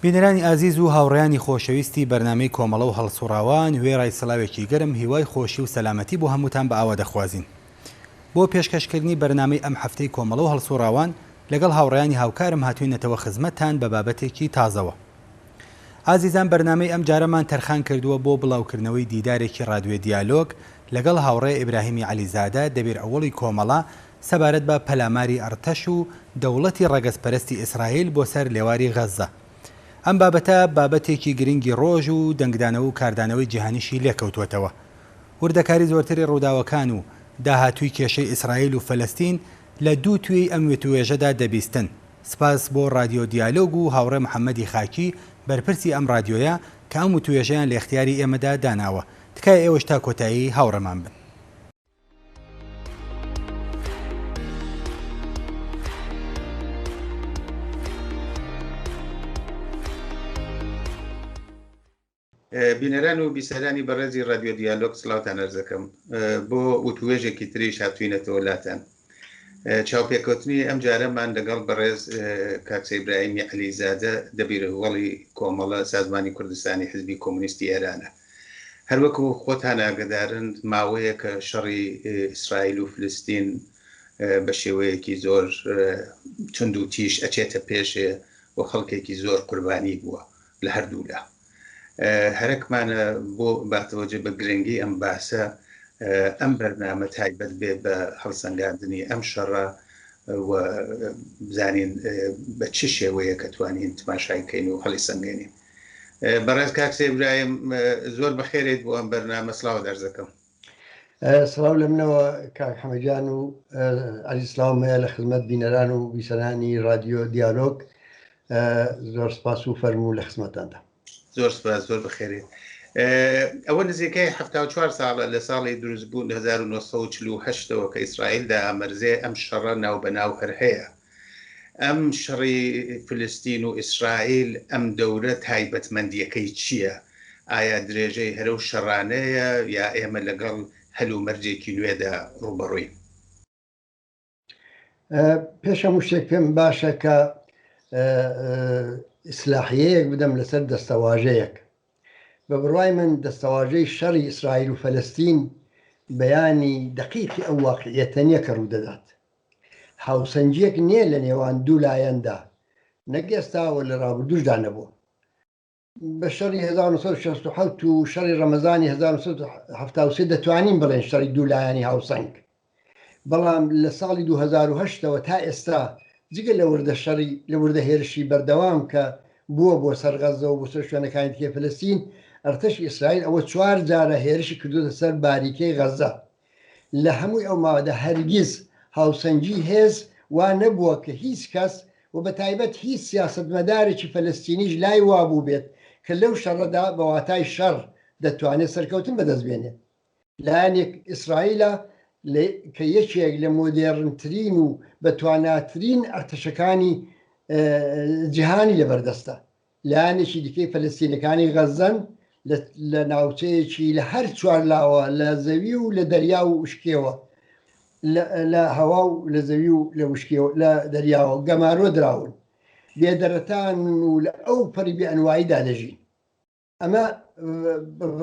بینەرانی ئازیز و هاوڕێیانی خۆشەویستی بەرنامەی کۆمەڵە و هەڵسوڕاوان وێڕای سڵاوێکی گەرم هیوای خۆشی و سەلامەتی بۆ هەمووتان بە ئاوا دەخوازین بۆ پێشکەشکردنی بەرنامەی ئەم هەفتەی کۆمەڵە و هەڵسوڕاوان لەگەڵ هاوڕێیانی هاوکارم هاتوینەتەوە خزمەتتان بە بابەتێکی تازەوە ئازیزان بەرنامەی ئەم جارەمان تەرخان کردووە بۆ بڵاوکردنەوەی دیدارێکی ڕادوێ دیالۆگ لەگەڵ هاوڕێ ئیبراهیمی عەلیزادە دەبیر ئەوەڵی کۆمەڵە سەبارەت بە پەلاماری ئەڕتەش و دەوڵەتی ڕەگەزپەرستی ئیسڕائیل بۆ سەر لێواری غەززە ئەم بابەتە بابەتێکی گرنگی ڕۆژ و دەنگدانەوە و کاردانەوەی جیهانیشی لێکەوتوەتەوە. وردەکاری زۆرتری ڕووداوەکان و داهاتووی کێشەی ئیسرائیل و فەلەستین لە دوو توێی ئەم وتووێژەدا دەبیستن. سپاس بۆ ڕادیۆ دیالۆگ و هاوڕێ محەممەدی خاکی بەرپرسی ئەم ڕادیۆیە کە ئەم وتووێژەیان لە ئیختیاری ئێمەدا داناوە. تکایە ئێوەش تا کۆتایی هاوڕێمان بن. بینەران و بیسەرانی بەڕێزی رادیۆ دیالۆگ سلااوان ئەرزەکەم بۆ وتوێژێکی تریش هاتوینەتەوە لاتەن چاوپێکەوتنی ئەم جارەمان لەگەڵ بەڕێز کاکسەیبراهیمی علیزادە دەبیرهوەڵی کۆمەڵە سازمانی کوردستانی حزبی کۆمونیستی ئێرانە هەروەکو خۆتان ئاگدارن ماوەیە کە شەڕی ئیسرائیل و فلستین بە شێوەیەکی زۆر تونند و تیش ئەچێتە پێشێ و خەڵکێکی زۆر قوربانی بووە لە هەردوو لا هەرەکمانە بۆ باتەوەجێ بە گرنگی ئەم باسە ئەم بەرنامە تایبەت بێ بە هەڵسەنگاندنی ئەم شەڕە بزانین بە چ شێوەیە کە توانین تماشایکەین و هەڵی سەنگێنین بەڕێز کاکسێ برایم زۆر بەخێرێت بۆ ئەم بەرنامە سلااو دەرزەکەم سڵاو لە منەوە کاک حەمەگیان و عەلی سلااو مەیە لە خزمەت بینەران و بیسەرانی رادیۆ دیالۆگ زۆر سپاس و فەرموو لە خزمەتاندا زۆر سپاس زۆر بخێرێت ئەوە نزیکەی 4 ساڵە لە ساڵی دروستبوون 1940ەوە کە ئیسرائیل دا ئامرزێ ئەم شەڕە ناو بەناو هەر هەیە ئەم شەڕی فلستین و ئیسرائیل ئەم دەورە تایبەتمەندیەکەی چیە؟ ئایا درێژەی هەرەو شەڕانەیە یا ئێمە لەگەڵ هەل و مەرجێکی نوێدا ڕووبەڕووین؟ پێش هەموو شتێک پێم باشە کە ئیسلاحیەیەک بدەم لەسەر دەستەواژەیەک بە بڕای من دەستەواژەی شەڕی ئیسرائیل و فەلستین بەیانی دقیقی ئەو واقعیەتە نیە کە ڕوودەدات هاوسەنگییەک نییە لە نێوان دوو لایەندا، نەک ئێستا و لە ڕابردووشدا نەبووە. بە شەڕی هەزار و نۆ سەد و شەست و حەوت و شەڕی ڕەمەزانی هەزار و نۆ سەد و حەفتا و سێ دەتوانین بڵێین شەڕی دوو لایەنی هاوسەنگ، بەڵام لە ساڵی دوو هەزار و هەشت ەوە تا ئێستا جگە لە وردە شەڕی، لە وردە هێرشی بەردەوام کە بووە بۆ سەر غەززە و بۆ سەر شوێنەکانی دیکەی فەلەستین، ئەرتەشی ئیسرائیل ئەوە چوار جارە هێرشی کردووەتە سەر باریکەی غەززە. لە هەمووی ئەو ماوەدا هەرگیز هاوسەنگی هێز وا نەبووە کە هیچ کەس و بە تایبەت هیچ سیاسەتمەدارێکی فەلەستینیش لای وا بووبێت کە لەو شەڕەدا بە واتای شەڕ دەتوانێت سەرکەوتن بەدەست بێنێت. لایەنێک ئیسرائیلە کە یەکێک لە مۆدێڕنترین و بەتواناترین ئەرتەشەکانی جیهانی لەبەردەستە. لایەنێکی دیکەی فەلەستینیەکانی غەززەن لە ناوچەیەکی لە هەر چوار لاوە لە زەوی و لە دەریا و وشکێوە لە هەوا و لە زەوی و لە وشکێوە لە دەریاوە گەمارۆ دراون بێدەرەتان و لە ئەو پەری بێئەنواییدا دەژین ئەمە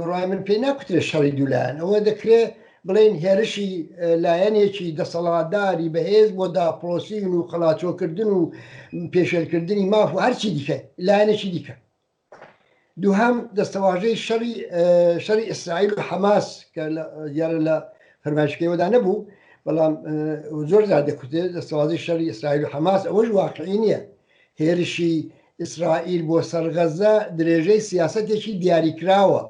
ڕای من پێ ناکوترێت شەڕی دوولایەن ئەوە دەکرێت بڵێین هێرشی لایەنێکی دەسەڵاتداری بەهێز بۆ داپڵۆسین و قەڵاچۆکردن و پێشێلکردنی ماف و هەرچی دیکە لایەنێکی دیکە دووهام دەستەواژەی شەڕی شەری ئیسرائیل و حەماس کە دیارە لە فەرمایشکەوەدا نەبوو بەڵام زۆر زار دەکوتێت دەستەوازی شەری ئیسرائیل و حەماس ئەوەش واقعی نییە هێرشی ئیسرائیل بۆ سەرغەزە درێژەی سیاستێکی دیاریکراوە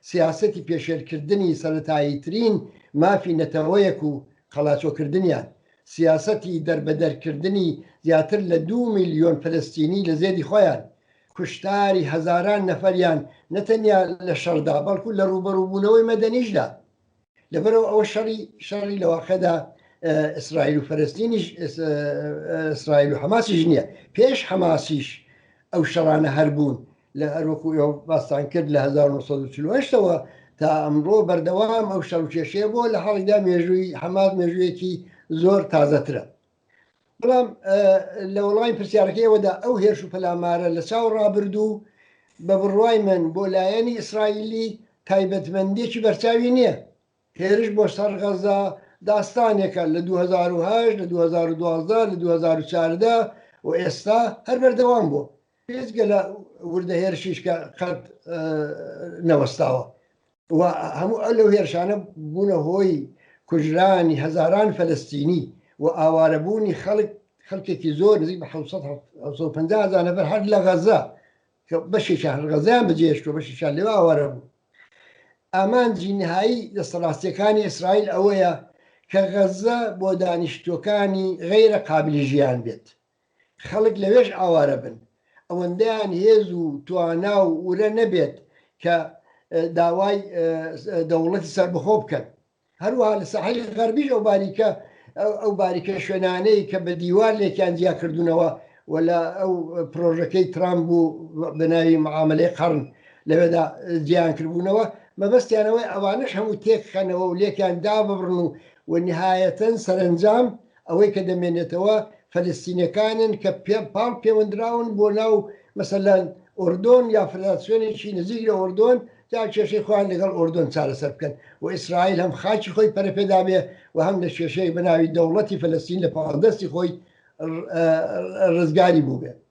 سیاسەتی پێشێلکردنی سەرەتاییترین مافی نەتەوەیەک و قەلاچۆکردنیان، سیاسەتی دەربەدەرکردنی زیاتر لە دوو ملیۆن فەلەستینی لە زێدی خۆیان، کوشتاری هەزاران نەفەریان نەتەنیا لە شەڕدا بەڵکو لە ڕووبەڕووبوونەوەی مەدەنیشدا، لەبەرەوە ئەوە شەڕی شەڕی لەواقعدا ئیسرائیل و فەرستینیش ئیسرائیل و حەماسیش نییە پێش حەماسیش ئەو شەڕانە هەربوون لە هەروەکو ئێوە باستان کرد لە 1940ەوە تا ئەمڕۆ بەردەوام ئەو شەڕکێشەیە بۆ لە حاڵیدا مێژووی حەماس مێژوویەکی زۆر تازەترە بەڵام لە وەڵامی پرسیارەکەیەوەدا ئەو هێرش و پەلامارە لە چاو ڕابردوو بە بڕوای من بۆ لایەنی ئیسرائیلی تایبەتمەندێکی بەرچاوی نییە هێرش بۆ سەر غەزا داستانێکە لە 2010 لە 2012 لە 2014 و ئێستا هەر بەردەوام بووە بێجگە لە وردە هێرشیش کە قەت نەوەستاوە و هەموو ئە لەو هێرشانە بوونە هۆی کوژرانی هەزاران فەلستینی و ئاوارەبوونی خەڵک خەڵکێکی زۆر نزیک بە 1950 هزار نەفر هەر لە غەزە کە بەشێکیان هەر غەزیان بەجێشت و بەشیشان لێوە ئاوارە بوو ئامانجی نهایی دەستەڕاستیەکانی ئیسرائیل ئەوەیە کە غەزە بۆ دانیشتوەکانی غیرە قابلی ژیان بێت خەڵک لەوێش ئاوارە بن، ئەوەندەیان هێز و توانا و ورە نەبێت کە داوای دەوڵەتی سەربەخۆ بکەن. هەروەها لە ساحلی غەربیش ئەو باریکە ئەو باریکە شوێنانەی کە بە دیوار لێکیان جیا کردوونەوە و لە ئەو پرۆژەکەی ترامپ بوو بە ناوی معاملەی قەڕن لەوێدا جیان کردبوونەوە مەبەستیانەوەی ئەوانش هەموو تێکخەنەوە و لێکیان داببڕن و و نهایەتەن سەرەنجام ئەوەی کە دەمێنێتەوە فەلەستینیەکانن کە پاڵ پێوەندراون بۆ ناو مەسەلەن ئۆردۆن یا فدراسیۆنێکی نزیک لە ئۆردۆن تا کێشەی خۆیان لەگەڵ ئۆردۆن چارەسەر بکەن و ئیسرائیل هەم خاکی خۆی پەرەپێدابێ و هەم لە کێشەیەک بە ناوی دەوڵەتی فەلەستین لە پاڵدەستی خۆی ڕزگاری بووبێ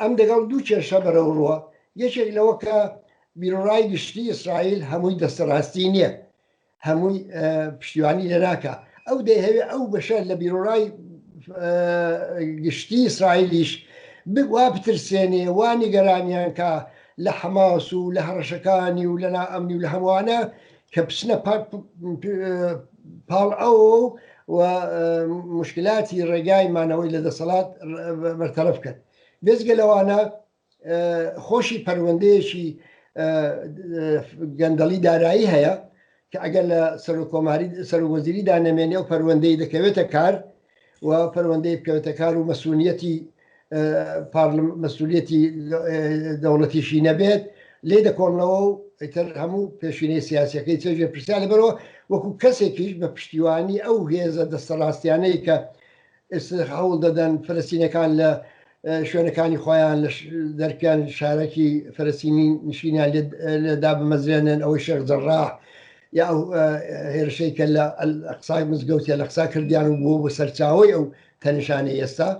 ئەم دەگەڵ دوو کێشە بەرەو ڕووە یەکێک لەوە کە بیرڕای گشتی ئیسرائیل هەمووی دەستەڕاستی نییە هەمووی پشتیوانی لە ناکە ئەو دەیهەوێ ئەو بەشە لە بیرڕای گشتی ئیسرائیلیش وا بترسێنێ وا نیگەرانیان کە لە حەماس و لە هەڕەشەکانی و لە نائەمنی و لە هەمووانە کە بچنە پاڵ ئەو و مشکلاتی ڕێگای مانەوەی لە دەسەڵات بەرتەرەف کرد بێزگە لەوانە خۆشی پەروەندەیەکی گەندەڵی دارایی هەیە کە ئەگەر لە سەر و کۆماری سەر وەزیریدا نەمێنێ و پەروەندەی دەکەوێتە کار و پەروەندەی بکەوێتەکار و مەسونیەتی مەسوولەتی دەوڵەتیشی نەبێت لێ دەکۆڵنەوە و ئیتر هەموو پێشینەی سیاسەکەی چێژێ پرسیار لەبەرەوە وەکو کەسێکیش بە پشتیوانی ئەو هێزە دەستەڕاستیانەی کە ئێستا هەوڵ دەدەن فلستینەکان لە شوێنەکانی خۆیان لە دەرکیان شارەکی فەرسینی نشینیان لە دابمەزرێنن ئەوەی شێخ جەڕا یا ئەو هێرشەی کە لە قسای مزگەوتە لە قسا کردیان و بووە بە سەرچاوی ئەو تەنیشانەی ئێستا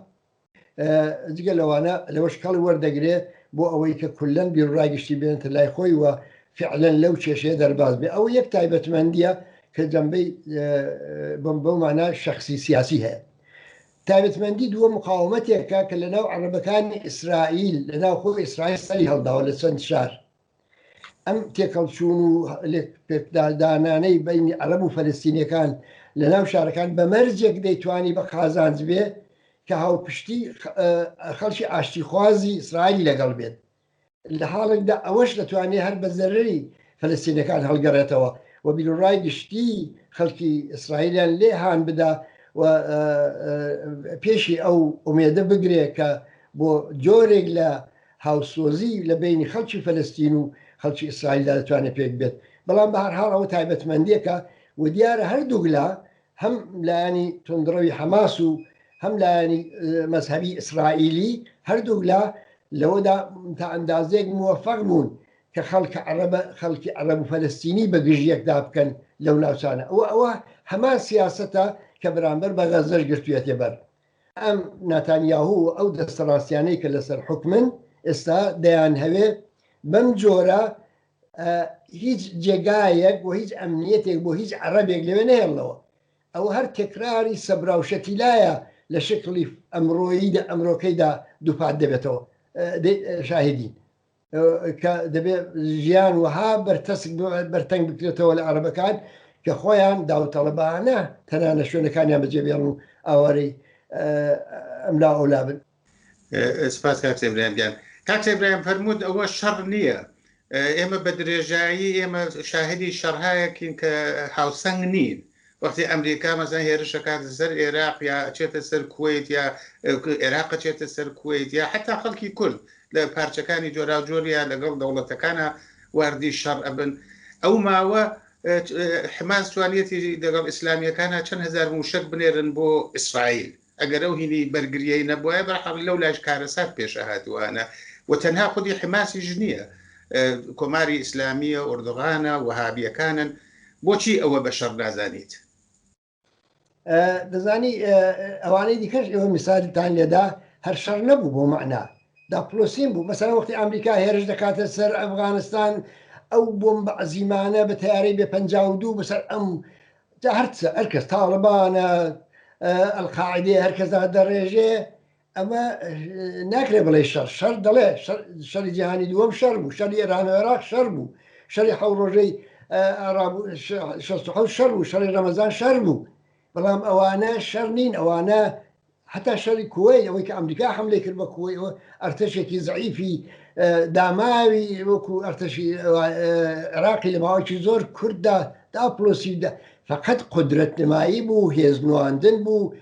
جگە لەوانە لەوە شکڵی وەردەگرێت بۆ ئەوەی کە کولەن بیرڕای گشتی بێنتە لای خۆی وە فعلەن لەو کێشەیە دەرباز بێ ئەو یەک تایبەتمەندیە کە جەمبەی بم بەو مانای شخصی سیاسی هەیە تایبەتمەندی دووەم مقاومەتێکە کە لەناو عەرەبەکانی ئیسرائیل لەناو خۆی ئیسرائیل سەری هەڵداوە لە چەند شار ئەم تێکەڵچوون و پێکدادانانەی بینی عەرەب و فەلستینەکان لە ناو شارەکان بە مەرجێک دەیتوانی بە قازانج بێ کە هاوپشتی خەڵکی ئاشتیخوازی ئیسرائیل لەگەڵ بێت لە حاڵێکدا ئەوەش دەتوانێت هەر بە زەرەری فەلەستینیەکان هەڵگەڕێتەوە و بیروڕای گشتی خەڵکی ئیسرائیلیان لێ هان بدا و پێشی ئەو ئومێدە بگرێت کە بۆ جۆرێک لە هاوسۆزی لە بینی خەڵکی فەلستین و خەڵکی ئیسرائیلدا دەتوانێت پێک بێت بەڵام بە هەرحاڵ ئەوە تایبەتمەندیەکە و دیارە هەردووگلا هەم لایەنی تونندڕەوی حەماس و هەم لایەنی مەذهبی ئیسرائیلی هەردوو لە لەوەدا تا ئەندازێک موفق بوون کە خەڵکە عەرەبە خەڵکی عەرەب و فەلستینی بە گژیەکدا بکەن لەو ناوچانە ئەوە ئەوە هەمان سیاستە کە بەرامبەر بە غەزەش گرتوێتێ بەر ئەم ناتانیاهو ئەو دەستەڕاستیانەی کە لەسەر حکمن ئێستا دەیان هەوێ بەم جۆرە هیچ جێگایەک و هیچ ئەمنیەتێک بۆ هیچ عەڕەبێک لەوێ نەهێڵنەوە ئەوە هەر تەکراری سەبرا و شەتیلایە لە شکڵی ئەمڕۆییدا ئەمرۆکەیدا دووپات دەبێتەوە شاهدین کە دەبێت ژیان وەها بەرتەسک بەرتەنگ بکرێتەوە لە عەربەکان کە خۆیان داوتەڵەبانە تەنانە شوێنەکانیان بەجێبێڵن و ئاوارەی ئەملا ئەولا بن سپاس کاک سەبرایان گیان کاک سەبرایان فەرمووت ئەوە شەڕ نییە ئێمە بە درێژایی ئێمە شاهدی شەڕهایەکین کە هاوسەنگ نین وەختی ئەمریکا مەسان هێرشەکات سەر عێراق یا چێتە سەر کویت یا عێراق چێتە سەر کویت یا حتا خەڵکی کورد لە پارچەکانی جۆراوجۆریە لەگەڵ دەوڵەتەکانە واردی شەڕ ئەبن ئەو ماوە حماس توانیەتی دەگەڵ ئیسلامیەکانە چەند هزار موشک بنێرن بۆ ئیسرائیل ئەگەر ئەو هینی بەرگریەی نەبوایە بەرحەق لەو لایش کارەسات پێشە هاتووانە و تەنها خودی حماسیش نییە کۆماری ئیسلامیە ئۆردوغانە وهابیەکانن بۆچی ئەوە بە شەڕ نازانیت دەزانی ئەوانەی دیکەش ئێوە میساجتان لێدا هەر شەڕ نەبوو بۆ معنا دا پلۆسین بوو مەسەر وەختی ئەمریکا هێرش دەکاتە سەر ئەفغانستان ئەو بۆم بە عزیمانە بە تیارەی بێ پ دوو بەسەر ئەم جا هەر چ هەر کەس تاڵبانە ئەلقاعدێ هەر کەسدا دەڕێژێ ئەمە ناکرێ بڵێ شەر شەر دەڵێ شەری جیهانی دووەم شەر بوو شەری ئێران و عێراق شەر بوو شەری حەو ڕۆژەی شەر و شەر بوو شەری ڕەمەزان شەر بوو بەڵام ئەوانە شەر نین ئەوانە هەتا شەڕی کوەیت ئەوەی کە ئەمریکا حەملەی کرد بە کوەی ئەوە ئەرتەشێکی زعیفی داماوی وەکو ئەرتەشی عێراقی لە ماوەکی زۆر کورددا داپلۆسیدا فقط قدرەت نمایی بوو هێز نواندن بوو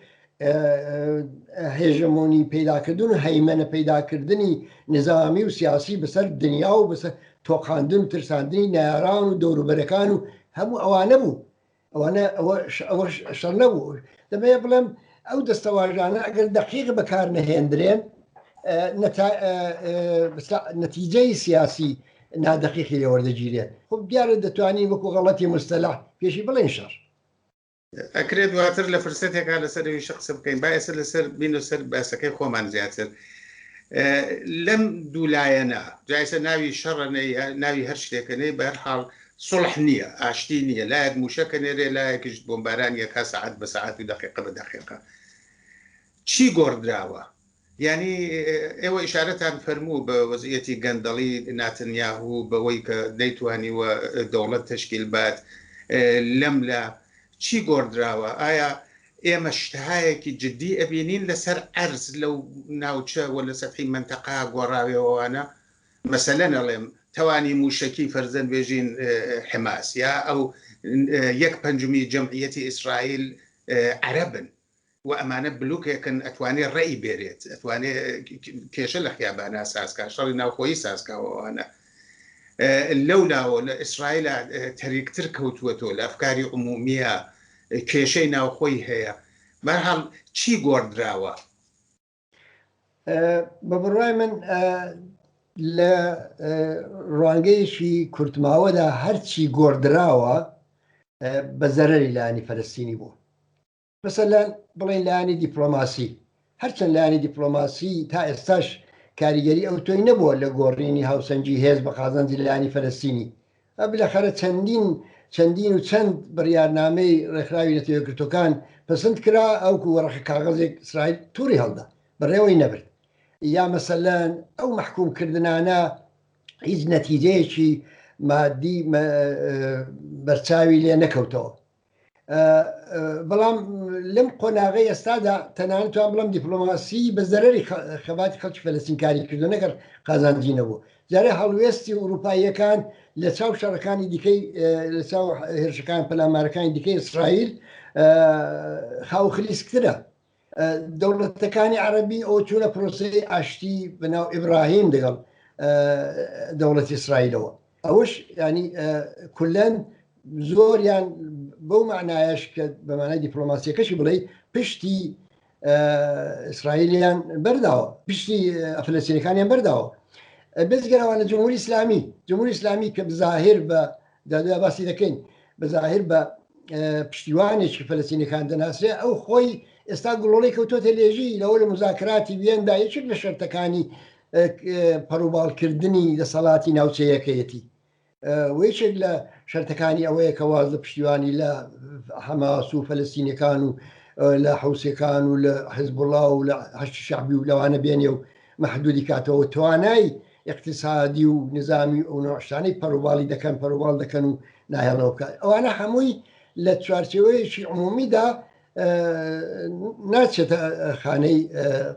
هێژەمۆنی پیداکردن و هەیمەە پیداکردنی نظامی و سیاسی بەسەر دنیا و بەسەر تۆقااندن و ترساندنی ناران و دەوروبەرەکان و هەموو ئەوانە بوو ئەوانە ئەوە ئەوە شەڕ نەبوو دەبێ بڵێم ئەو دەستەواژانە ئەگەر دەقیق بەکار نەهێندرێن نەتیجەی سیاسی نادەقیقی لێوەردەگیرێت خب دیارە دەتوانین وەکو غەڵەتی مستەلا پێشی بڵێن شەڕ ئەکرێت دواتر لە فرسەتێکا لەسەر ویش قسە بکەین با ئێستا لەسەر بین و سەر باسەکەی خۆمان زیاتر لەم دوولایەنە جایسە ناوی شەڕەنەی ناوی هەر شتێکەکەی بەرحاڵ سوڵح نییە، ئاشتی نییە، لایەک مووشەک ئەنێرێ، لایەکیش بۆمبارانی ئەکا سەعات بە سەعات و دەقیقە بە دەقیقە. چی گۆڕدراوە؟ یانی ئێوە ئیشارەتان فەرموو بە وەزعیەتی گەندەڵی ناتنیاهو و بەوەی کە نەیتوانیوە دەوڵەت تەشکیل بات لەم لا چی گۆڕدراوە؟ ئایا ئێمە شتهایەکی جدی ئەبینین لەسەر عەرز لەو ناوچە و لە سەتحی مەنتەقە گۆڕاوێەوەوانە؟ مەسەلەن ئەڵێم توانی موشەکی فەرزەن بێژین حماس یا ئەو یەک پەنجمی جەمعیەتی ئیسرائیل عەرەبن و ئەمانە بلوکێکن ئەتوانێ ڕێی بێرێت ئەتوانێ کێشە لە خیابانا سازکە شەڕی ناوخۆی سازکاوەوانە لەو لاوە لە ئیسرائیلە تەریکتر کەوتووە تۆ لە ئەفکاری عمومیە کێشەی ناوخۆی هەیە بەرحاڵ چی گۆڕدراوە بە بڕای من لە ڕوانگەیەکی کورتماوەدا هەرچی گۆڕدراوە بە زەرری لانی فەرستینی بوو مەسەر بڵێن لایانی دیپلۆماسی هەرچەند لایانی دیپلۆماسی تا ئێستاش کاریگەری ئەو تۆی نەبووە لە گۆڕینی هاوسەنگی هێز بە قازانجی لایانی فەرستینی ئە بلەخەرە چەندین چەندین و چەند بڕیارنامەی ڕێکخراوی نەتەوەیەکگرتووەکان پەسند کرا ئەوکو وەڕەقە کاغەزێک ئیسرائیل تووڕی هەڵدا بەڕێوەی نەبرد یا مەسەلەن ئەو مەحکووم کردنانە هیچ نەتیجەیەکی مادی بەرچاوی لێ نەکەوتەوە. بەڵام لەم قۆناغی ئێستادا تەنانتوان بڵم دیپلۆماسی بە زەرری خەباتی خەڵکی فەلسینکاری کردو نەگەر قازانجی نەبوو جارێ هەڵوێستی ئوروپاییەکان لە چاو شەڕەکانی دیکەی لە چاو هێرشەکان پەلامارەکانی دیکەی ئیسرائیل خاوخلیسکترە دەوڵەتەکانی عەرەبی ئەو چوونە پرۆسەی ئاشتی بەناو ئیبراهیم دەگەڵ دەوڵەتی ئیسرائیلەوە ئەوش ینی کولەن زۆریان بەو معنایش کە بەمانای دیپلۆماسیەکەشی بڵێ پشتی ئیسرائیلیان بەرداوە پشتی ئەفلسینەکانیان بەرداوە بزگەرەوانە جمهوری ئسلامی جمهوری ئسلامی کە بزاهر بە دادە باسی دەکەین بە زاهر بە پشتیوانێکی فەلەسینەکان دەناسێ ئەو خۆی ئێستا گوڵۆڵی کەوتۆتە لێژی لەوە لە مزاکراتی وێندا یەکێک لە شەرتەکانی پەڕوباڵکردنی دەسەڵاتی ناوچەیەکەیەتی ویچێک لە شەرتەکانی ئەوەیە کە واز لە پشتیوانی لە حەماس و فەلستینەکان و لە حوسەکان و لە حزبڵا و لە هەشتی شعبی و لەوانە بێنێ و محدودی کاتەوە توانای ئیقتیسادی و نیزامی و ئەو نەوع شتانەی پەرۆباڵی دەکەن پەرۆباڵ دەکەن و ناهێڵنەوە بکات ئەوانە هەمووی لە چوارچێوەیەکی عمومیدا ناچێتە خانەی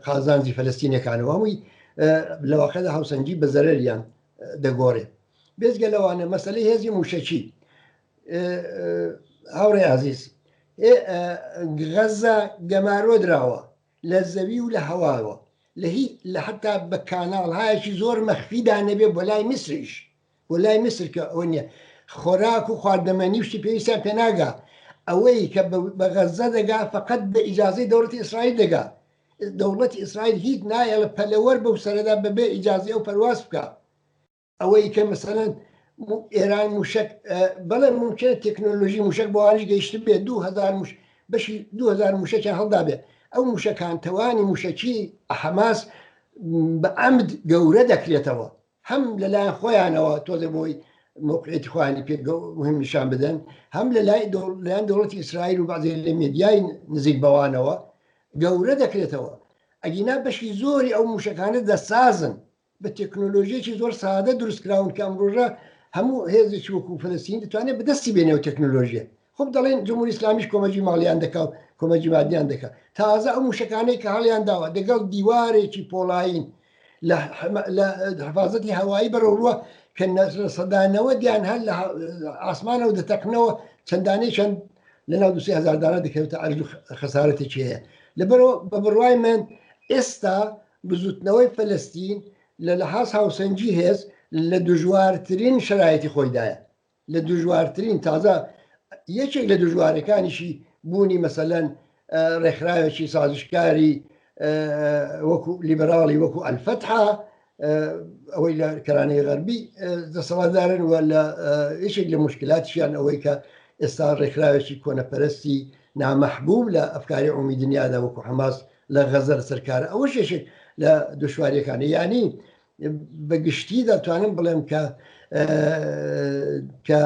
قازانجی فەلستینەکانەوە هەمووی لە واقعدا هاوسەنگی بە زەرەریان دەگۆڕێ بێزگە لەوانە مەسلەی هێزی موشەکی هاوڕێ عزیز غەزە گەمارۆ دراوە لە زەوی و لە هەواوە لە هی لە حەتا بە کاناڵهایەکی زۆر مەخفی دا نەبێ بۆ لای میسریش بۆ لای میسر کە ئەوە نیە خۆراک و خواردنەمەنی شتی پێویستیان پێ ناگا ئەوەی کە بە غەزە دەگا فەقەت بە ئیجازەی دەوڵەتی ئیسرائیل دەگا دەوڵەتی ئیسرائیل هیچ نایەڵە پەلەوەر بەو سەرەدا بەبێ ئیجازی ئەو پەرواز بکا ئەوەی کە مەسەەن ئێران موشک بەڵێ ممکن تەکنۆلۆژی موشک بۆ ئاش گەیشت بێ 2000 مش بەشی 2000 موشەکیان هەڵدا بێ ئەو موشەکان تەوانی موشەکی حەماس بە ئەمد گەورە دەکرێتەوە هەم لەلایەن خۆیانەوە تۆزە بۆی موقعێتی خوانی پێ مهم نیشان بدەن هەم لە لای لایەن دەوڵەتی ئیسرائیل و بازێ لە مێدیای نزیک بەوانەوە گەورە دەکرێتەوە ئەگینا بەشی زۆری ئەو موشەکانە دەسازن بە تەکنۆلۆژیەکی زۆر سادە دروست کراون کە ئەمڕۆژە هەموو هێزێکی وەکو فلسین دەتوانێت بەدەستی بێنێ و تەکنۆلۆژیە خب دەڵێن جمهوری ئسلامیش کۆمەجی ماڵیان دەکا و کۆمەجی مادیان دەکە تازە ئەو موشەکانەی کە هەڵیان داوە دەگەڵ دیوارێکی پۆڵین لە حفاظەتی هەوایی بەرەوروە کە نەسرە سەدانەوە دیان هەر لە ئاسمانەوە دەتەقنەوە چەندانەی چەند لە ناو دوسی هزاردانە دەکەوتە ئەرز خەسارەتێکی هەیە لەبەرەوە بە بڕوای من ئێستا بزوتنەوەی فەلەستین لە لەحاز هاوسەنگی هێز لە دژوارترین شەرایتی خۆیدایە لە دژوارترین تازە یەکێک لە دژوارەکانیشی بوونی مەسەلەن ڕێکخراوێکی سازشکاری وەکو لیبراڵی وەکو ئەلفەتحا ئەوەی لە کەرانەی غەربی دەسەڵاتدارن و لە یەکێک لە مشکلاتیان ئەوەی کە ئێستا ڕێکخراوێکی کۆنەپەرستی نامەحبوو لە ئەفکاری عمی دنیادا وەکو حماس لە غەزە لەسەر کارە ئەوەش یەکێک لە دشواریەکانی یانی بە گشتی دەتوانم بڵێم کە کە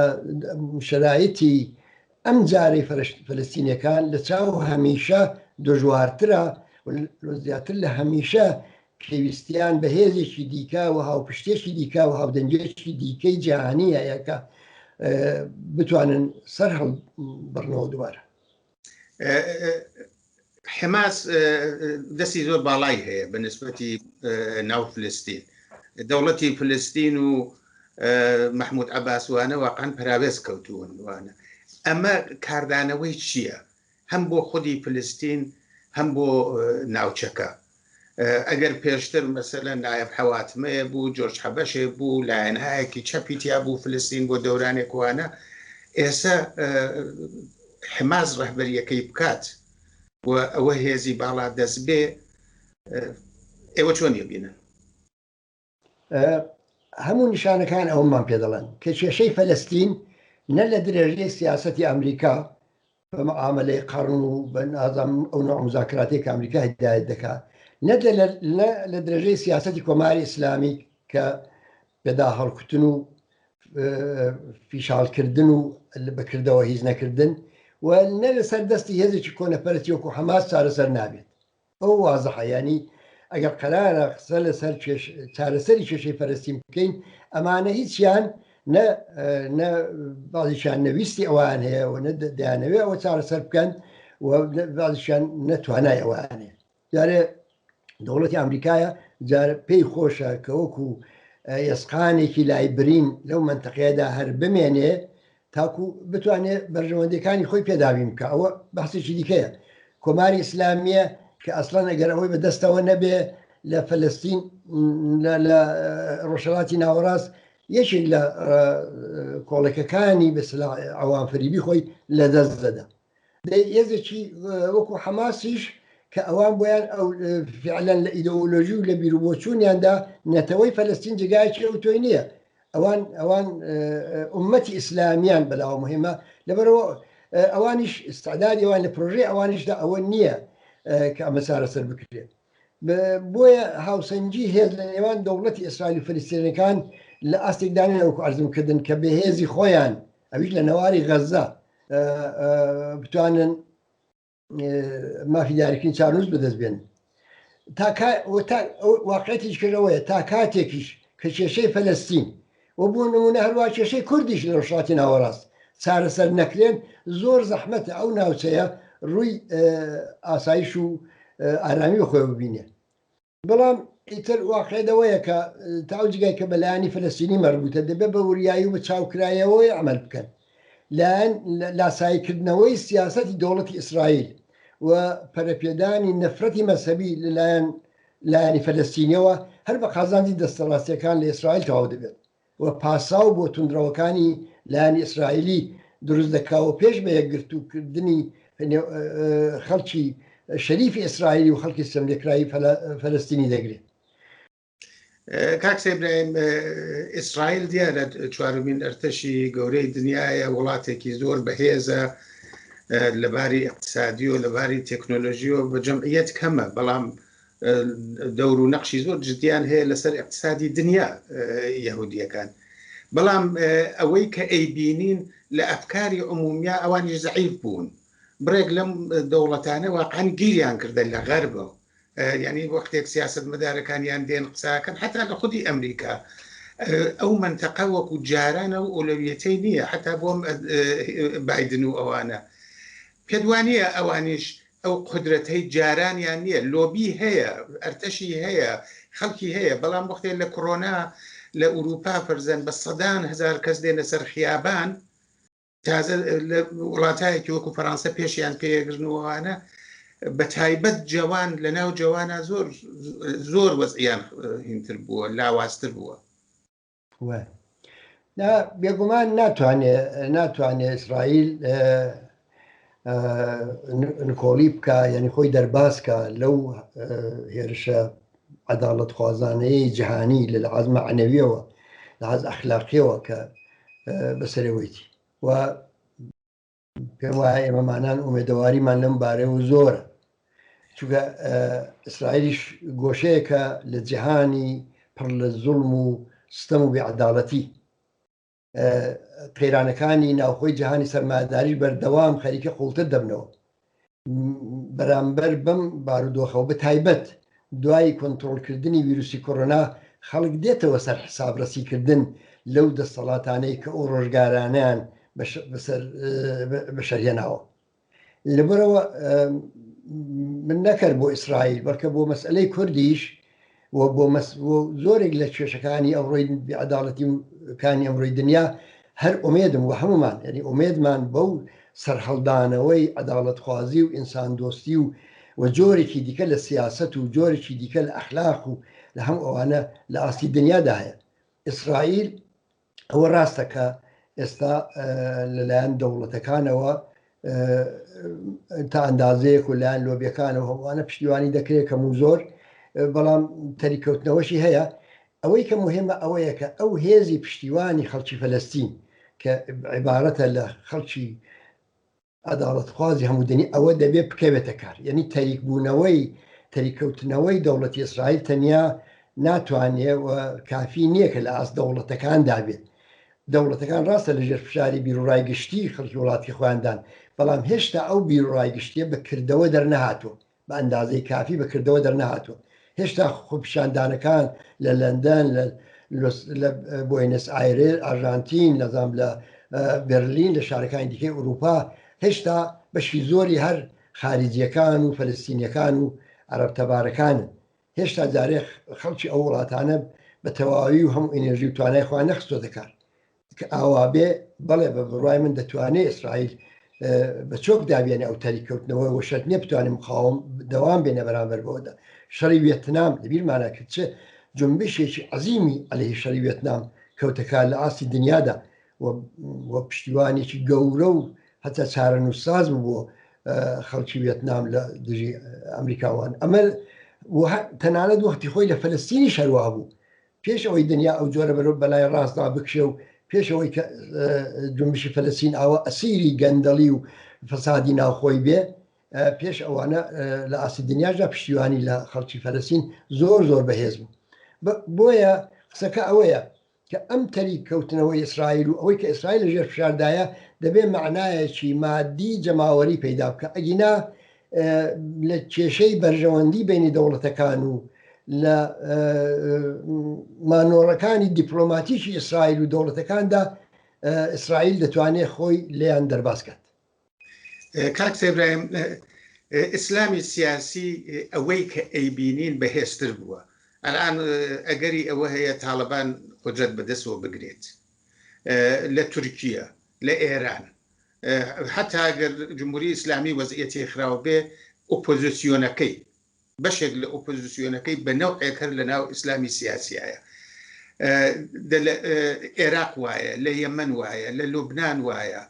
شەرایەتی ئەم جارەی فلستینەکان لە چاو هەمیشە دژوارترە زیاتر لە هەمیشە پێویستیان بە هێزێکی دیکە و هاوپشتێکی دیکە و هاودەنگێکی دیکەی جیهانیە یەکە بتوانن سەر هەڵ بڕنەوە دووارە حماس دەستی زۆر باڵای هەیە بە نسبەتی ناو فلستین دەوڵەتی فلستین و مححمود عباسوانە واقعان پراوێز کەوتوون وانە ئەمە کاردانەوەی چییە؟ هەم بۆ خودی فلستین هەم بۆ ناوچەکە ئەگەر پێشتر مەسەلەن نایەف حەواتمەیە بوو، جۆرج حەبەشێ بوو، لایەنایەکی چەپی تیا بوو، فلستین بۆ دەورانێک وانە، ئێسە حماس ڕەهبەریەکەی بکات و ئەوە هێزی باڵا دەست بێ ئێوە چۆن یبینن؟ هەموو نیشانەکان ئەومان پێ دەڵێن کە کێشەی فەلستین نە لە درێژەی سیاستی ئەمریکا بە معاملەی قڕن و بەنازم ئەو نوع مزاکراتی کە ئەمریکا هدایت دەکات نە لە درێژەی سیاستی کۆماری ئیسلامی کە پێدا هەڵکوتن و فیشالکردن و بەکردەوە هیچ نەکردن و نە لەسەر دەستی هێزێکی کۆنەپەرستی وەکو حەماس چارەسەر نابێت ئەوە وازحە یانی ئەگەر قەرارە قسە لەسەر چارەسەری کێشەی فەرستین بکەین ئەمانە هیچیان نە بازیشان نەویستی ئەوان هەیە و نە دەیانەوێ ئەوە چارەسەر بکەن بازیشان نەتوانای ئەوانێ جارێ دەوڵەتی ئەمریکایە جار پێی خۆشە کە وەکو ئێسقانێکی لای برین لەو منتەقەیەدا هەر بمێنێ تاکو بتوانێ بەرژەوەندەکانی خۆی پێداویم بکە ئەوە بەحسێکی دیکەیە کۆماری ئیسلامیە کە ئەسڵان ئەگەر ئەوەی بە دەستەوە نەبێ لە فلستین لە ڕۆژهڵاتی ناوەڕاست یەکێک لە کۆڵەکەکانی بەسلا ئەوان فریبی خۆی لە دەست دەدا دەی هێزێکی وەکو حەماسیش کە ئەوان بۆیان ئەو فعلەن لە ئیدۆلۆژی و لە بیرروبۆچوونیاندا نەتەوەی فەلستین جگایکی ئەو تۆی نییە ئەوان ئەوان عومەتی ئیسلامیان بەلاوە مهمە لەبەرەوە ئەوانیش استعدادی ئەوان لە پرۆژەی ئەوانیشدا ئەوە نییە کە ئەمە چارەسەر بکرێت بۆیە هاوسەنگی هێز لە نێوان دەوڵەتی ئیسرائیل و فلستێنەکان لە ئاستێکدانەوەکو ئەرزمکردن کە بەهێزی خۆیان ئەویش لە نەواری غەززە بتوانن مافی دیارکردنی چارنووس بەدەست بێن واقعەتیش کردەوەیە تا کاتێکیش کە کێشەی فەلستین و بۆ نمونە هەروە کێشەی کوردیش لە ڕشاتی ناوەڕاست چارەسەر نەکرێن زۆر زەحمەتە ئەو ناوچەیە ڕووی ئاسایش و ئارامی خۆی ببینێ بەڵام ئیتر واقعێ دەوەیە کە تا ئەو جگای کە بەلایانی فلستینی مەربووتە دەبێت بە وریایی و بە چاوکرایەوەی ئەمەل بکەن لایەن لاساییکردنەوەی سیاستی دەوڵەتی ئیسرائیل و پەرەپێدانی نەفرەتی مەسەبی لەلایەن لایەنی فلستینیەوە هەر بە قازانجی دەستەڕاستیەکان لە ئیسرائیل تەواو دەبێت و پاساو بۆ توندڕەوەکانی لایەنی ئیسرائیلی دروست دەکا و پێش بە یەکگرتوو کردنی نێو خەڵکی شەریفی ئیسرائیلی و خەڵکی ستەملێکراوی فەلەستینی دەگرێ. کاک سێبراهیم ئیسرائیل دیارە چوارمین ئەرتەشی گەورەی دنیاە وڵاتێکی زۆر بەهێزە لەباری اقتصادی و لەباری تەکنۆلۆژی و بە جەمعیت کەمە بەڵام دەور و نەقشی زۆر جدیان هەیە لەسەر اقتصادی دنیا یهودیەکان بەڵام ئەوەی کە ئەی بینین لە ئەفکاری عمومیا ئەوانی زعیف بوون بڕێک لەم دەوڵەتانە واقعان گیریان کردن لە غەربە یعنی وەختێک سیاست مەدارەکانیان دێن قساکەن حتا لە خودی ئەمریکا ئەو منتەقە وەکو جارانە و ئۆلەویەتەی نییە حتا بۆم بادن و ئەوانە پێدوانە ئەوانیش ئەو قودرەتەی جارانیان نیە لۆبی هەیە ئەرتەشی هەیە خەڵکی هەیە بەڵام وەختێ لە کڕۆنا لە ئوروپا فەرزەن بە سەدان هزار کەس دێنە سەر خیابان تازە لە وڵاتایەکی وەکو فەرانسە پێشیان پێگرنوانە بە تایبەت جوان لە ناو جوانە زۆر زۆر وەزیان هینتر بووە لاوازتر بووە بێگومان ناتوانێ ناتوانێ ئیسرائیل نکۆڵی بکە یعنی خۆی دەرباسکە لەو هێرشە عداڵت خوازانەیە جیهانی لە عزمە عنەویەوە لە عز ئەخلاقیەوە کە بەسەرەوەیتی و پێم وایە ئێمەمانان ئومێدەواریمان لەم بارەوە زۆرە چونکە ئیسرائیلیش گۆشەیەکە لە جیهانی پڕ لە زوڵم و ستەم و بێعداڵەتی قەیرانەکانی ناوخۆی جیهانی سەرماداری بەردەوام خەریکە قوڵتر دەبنەوە بەرامبەر بەم بارودۆخەوە بە تایبەت دوای کۆنترۆڵکردنی ویروسی کۆرۆنا خەڵک دێتەوە سەر حسابڕەسیکردن لەو دەسەڵاتانەی کە ئەو ڕۆژگارانیان بەشەرهێناوە لەبەرەوە من نەکرد بۆ ئیسرائیل بەڵکە بۆ مەسئلەی کوردیش و بۆ مەس و زۆرێک لە کێشەکانی ئەوڕۆی بیعەداڵەتی و کانی ئەمڕۆی دنیا هەر ئومێدم و هەمومان یعنی ئومێدمان بەو سەرهەڵدانەوەی عەداڵەتخوازی و ئینسان دۆستی و و جۆرێکی دیکە لە سیاسەت و جۆرێکی دیکە لە ئەخلاق و لە هەم ئەوانە لە ئاستی دنیادا هەیە ئیسرائیل ئەوە ڕاستە کە ئێستا لەلایەن دەوڵەتەکانەوە تا ئەندازەیەک و لایەن لۆبیەکانەوە هەوانە پشتیوانی دەکرێت کەم و زۆر بەڵام تەریکەوتنەوەشی هەیە ئەوەی کە مهمە ئەوەیە کە ئەو هێزی پشتیوانی خەڵکی فەلستین کە عیبارەتە لە خەڵکی عەداڵەتخوازی هەموودەنی ئەوە دەبێت بکەوێتە کار یعنی تەریکبوونەوەی تەریککەوتنەوەی دەوڵەتی ئیسرائیل تەنیا ناتوانێ و کافی نییە کە لە ئاست دەوڵەتەکاندا بێت دەوڵەتەکان ڕاستە لەژێر فشاری بیرڕای گشتی خەڵکی وڵاتی خۆیاندان بەڵام هێشتا ئەو بیرڕای گشتیە بە کردەوە دەرنەهاتوە بە ئەندازەی کافی بە کردەوە دەرنەهاتووە. هێشتا خۆپیشاندانەکان لە لەندەن، لە لە بۆینس ئایرێر، ئاژانتین، نەزام لە بەرلین لە شارەکانی دیکەی ئورووپا هێشتا بەشی زۆری هەر خارجیەکان و فەلستینیەکان و عرب تەبارەکانن هێشتا جارێ خەڵکی ئەو وڵاتانە بە تەواوی و هەم ئینێژی و توانای خۆیان نەخستۆتە کار کە ئاوابێ بەڵێ بە بڕای من دەتوانێت ئیسرائیل بە چۆک دابێنە ئەو تەری کەوتنەوە و شەر نیە بتوانم خاوم دەوام بێنە بەرامبەر بەوەدا شەڕی وێتنام لەبیرمانە کرد چ جنبشێکی عزیمی ئەلهی شەری وێتنام کەوتەکار لە ئاستی دنیادا و پشتیوانێکی گەورە و هەتا چارە نووساز بووە خەڵکی وێتنام لە دژی ئەمریکاوان ئەمە تەنانەت وەختی خۆی لە فلستینی شەروا بوو پێش ئەوەی دنیا ئەو جۆرە بەرەو بەلای ڕاستدا بکشێ و پێش ئەوەی کە جمشی فەلەسین ئاوە ئەسیری گەندەڵی و فەسادی ناوخۆی بێ پێش ئەوانە لە ئاسی دنیاشدا پشتیوانی لە خەڵکی فەلەسین زۆر زۆر بەهێز بوو بۆیە قسەکە ئەوەیە کە ئەم تەری کەوتنەوەی ئیسرائیل و ئەوەی کە ئیسرائیل لە ژێر فشاردایە دەبێ معنایەکی مادی جەماوەری پەیدا بکە ئەگینا لە کێشەی بەرژەوەندی بینی دەوڵەتەکان و لە مانۆڕەکانی دیپلۆماتیکی ئیسرائیل و دەوڵەتەکاندا ئیسرائیل دەتوانێت خۆی لێیان دەرباز کات کاک سێبراهیم ئیسلامی سیاسی ئەوەی کە ئەیبینین بەهێزتر بووە ئەلان ئەگەری ئەوە هەیە تاالبان قدرەت بەدەستەوە بگرێت لە تورکیە لە ئێران حتا گەر جمهوری ئیسلامی وەزعەتی خراوە بێ ئۆپۆزیسیۆنەکەی بەشێک لە ئۆپۆزیسیۆنەکەی بە نەوعێک هەر لە ناو ئیسلامی سیاسیایە عێراق وایە لە یەمەن وایە لە لوبناان وایە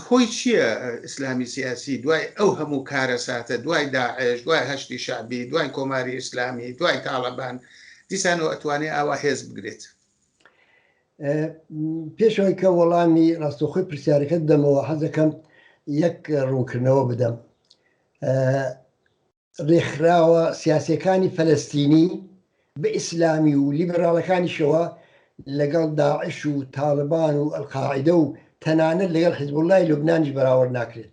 هۆی چییە ئیسلامی سیاسی دوای ئەو هەموو کارە ساتە دوای داعش دوای هەشتی شعبی دوای کۆماری ئیسلامی دوای تاالبان دیسانەوە ئەتوانێت ئاوا هێز بگرێت پێشەوەی کە وەڵامی ڕاستەخۆی پرسیارەکەت دەمەوە حەزەکەم یەک ڕوونکردنەوە بدەم ڕێکخراوە سیاسەکانی فەلستینی بە ئیسلامی و لیبراڵەکانیشەوە لەگەڵ داعش و تاالبان و ئەلقاعدە و تەنانەت لەگەڵ حزبوڵای لوبنانیش بەراورد ناکرێت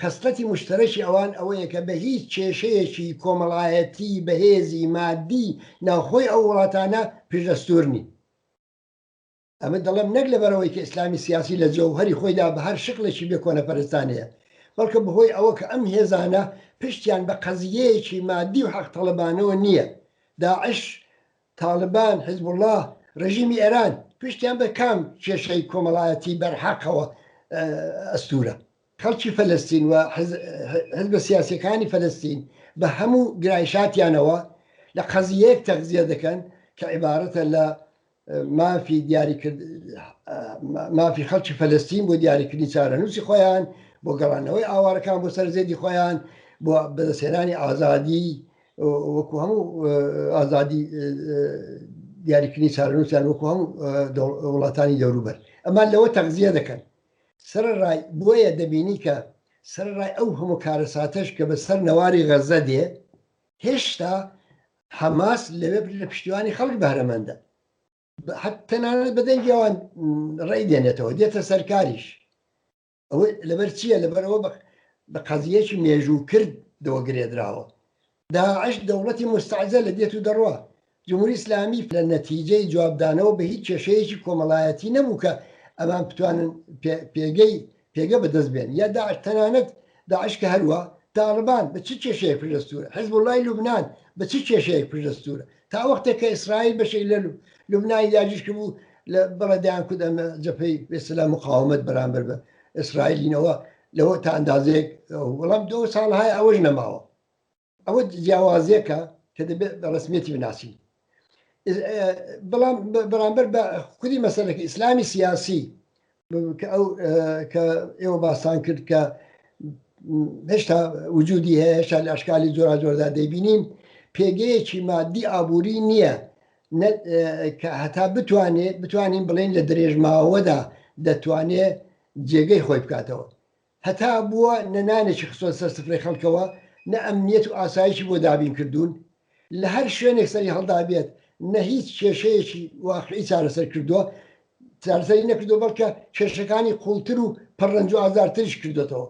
خەسڵەتی موشتەرەکی ئەوان ئەوەیە کە بە هیچ کێشەیەکی کۆمەڵایەتی، بەهێزی، مادی ناوخۆی ئەو وڵاتانە پشتەستوور نین. ئەمە دەڵێم نەک لەبەرئەوەی کە ئیسلامی سیاسی لە جەوهەری خۆیدا بە هەر شکڵێکی بێ کۆنەپەرستانەیە، بەڵکە بەهۆی ئەوە کە ئەم هێزانە پشتیان بە قەزییەیەکی مادی و حەقتەڵەبانەوە نییە، داعش تاڵبان، حیزبوڵڵا، ڕێژیمی ئێران پشتیان بە کام کێشەی کۆمەڵایەتی بەرحەقەوە ئەستوورە؟ خەڵکی فەلەستین و حیزبە سیاسییەکانی فەلەستین بە هەموو گرایشاتیانەوە لە قەزییەیەک تەغزیە دەکەن کە عیبارەتە لە مافی دیاریکرد مافی خەڵکی فەلەستین بۆ دیاریکردنی چارەنووسی خۆیان بۆ گەڕانەوەی ئاوارەکان بۆ سەر زێدی خۆیان بۆ بەدەستێنانی ئازادی وەکو هەموو ئازادی دیاریکردنی چارەنووسیان وەکو هەموو وڵاتانی دەوروبەر ئەمان لەوە تەغزیە دەکەن سەرڕای بۆیە دەبینی کە سەرڕای ئەو هەموو کارەساتەش کە بە سەر نەواری غەزە دێ هێشتا حەماس لەوێ لە پشتیوانی خەڵک بەرەمەندە تەنانەت بەدەنگیان ڕێ دێنێتەوە دێتە سەرکاریش ئەوە لەبەر چییە لەبەرەوە بە بە قەزیەکی مێژوو کرد دەوە گرێدراوە داعش دەوڵەتی مستعجە لە دێت و دەڕوا جمهوری ئسلامی لە نەتیجەی جوابدانەوە بە هیچ کێشەیەکی کۆمەڵایەتی نەبوو کە ئەمان بتوانن پێگەی پێگە بەدەست بێن یا داعش تەنانەت داعش کە هەروە تاالبان بە چ کێشەیە پشدەستورە حزب وڵی لوبناان بە چ کێشەیەک پشدەستورە تا وەختێک کە ئیسرائیل بەشێک لە لوبنانی داگیرکرد بوو لە بەڵێدایان کود ئەمە جەپەی بێسەلا مقاومت بەرامبەر بە ئیسرائیلینەوە لەوە تا ئەندازەیەک وەڵام دو ساڵهای ئەوەش نەماوە ئەوە جیاوازێکە کە دەبێت بە ڕسمێتی بناسین بەڵام بەرامبەر بە خودی مەسەرەکە ئیسلامی سیاسی ئەو کە ئێوە باسان کرد کە هێشتا وجودی هەیە هێشتا لە ئەشکالی جۆرا جۆردا دەبینین پێگەیەکی مادی ئابووری نییە کە هەتا بتوانێت بتوانین بڵین لە درێژماوەدا دەتوانێت جێگەی خۆی بکاتەوە هەتا بووە نە نانێکی خستووە سەر سفرەی خەڵکەوە، نە ئەمنییەت و ئاسایشی بۆ دابین کردوون، لە هەر شوێنێک سەری هەڵدابێت نە هیچ کێشەیەکی واقعی چارەسەر کردووە، چارەسەری نەکردووە بەڵکە کێشەکانی قووڵتر و پڕ رەنج و ئازارتریش کردۆتەوە.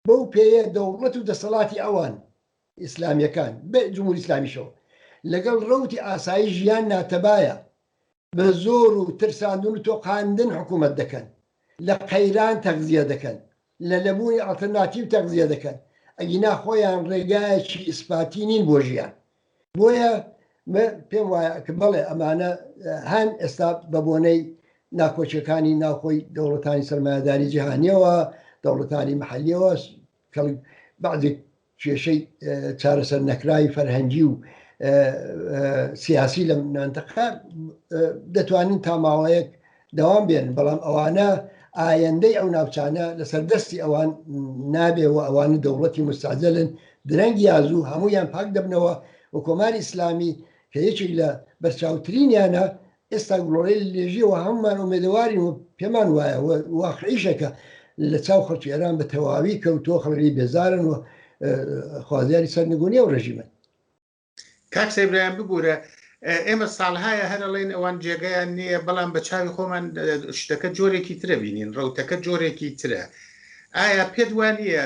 بەو پێیە دەوڵەت و دەسەڵاتی ئەوان، ئیسلامییەکان، بە جمهوری ئیسلامیشەوە، لەگەڵ رەوتی ئاسایش یان ناتەبایە بە زۆر و ترساندن و تۆقاندن حکوومەت دەکەن، لە قەیران تەغزیە دەکەن، لە نەبوونی ئەڵتەرناتیڤ تەغزیە دەکەن، ئەگینا خۆیان ڕێگایەکی ئیسپاتی نین بۆ ژیان. بۆیە من پێم وایە کە بەڵێ ئەمانە هەن ئێستا بە بۆنەی ناکۆکییەکانی ناوخۆی دەوڵەتانی سەرمایەداری جیهانییەوە، دەوڵەتانی مەحەلییەوە، کەڵک بەعزێک کێشەی چارەسەر نەکراوی فەرهەنگی و سیاسی لە نانتەقا دەتوانین تا ماوەیەک دەوام بێن بەڵام ئەوانە ئایەندەی ئەو ناوچانە لەسەر دەستی ئەوان نابێ و ئەوان دەوڵەتی مستاجلن درەنگ یازوو هەمویان پاک دەبنەوە و کۆماری ئیسلامی کە یەکێک لە بەرچاوترینیانە ئێستا گڵۆڵەی لێژیە و هەموومان ئومێدەوارین و پێمان وایە و واقعیشە کە لە چاو خەڵکی ئێران بە تەواوی کەوتووە خەڵکی بێزارن و خوازیاری سەرنگونی و ڕژیمن کاک سەیبرایان ببوورە ئێمە ساڵهایە هەرەڵێن ئەوان جێگەیان نییە بەڵام بە چاوی خۆمان شتەکە جۆرێکی ترە بینین ڕوتەکە جۆرێکی ترە ئایا پێت وانە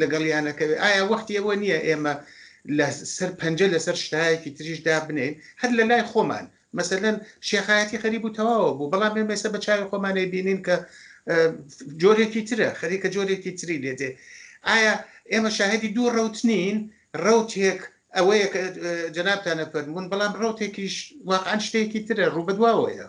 لەگەڵیانەکەوێت ئایا وەختی ئەوە نییە ئێمە لە سەر پەنجە لەسەر شتایەکی تریش دابنێین هەر لە لای خۆمان مەسەلەن شێخایەتی خەریب و تەواوە بوو بەڵام ئێمە ئێستا بە چاوی خۆمانەی بینین کە جۆرێکی ترە خەریکە جۆرێکی تری لێ دێ ئایا ئێمە شاهدی دوو ڕوت نین ڕوتێک ئەوەیە کە جەنابتانە فەرمونون بەڵام ڕوتێکیش واقعان شتێکی ترە ڕوو بەدواوەیە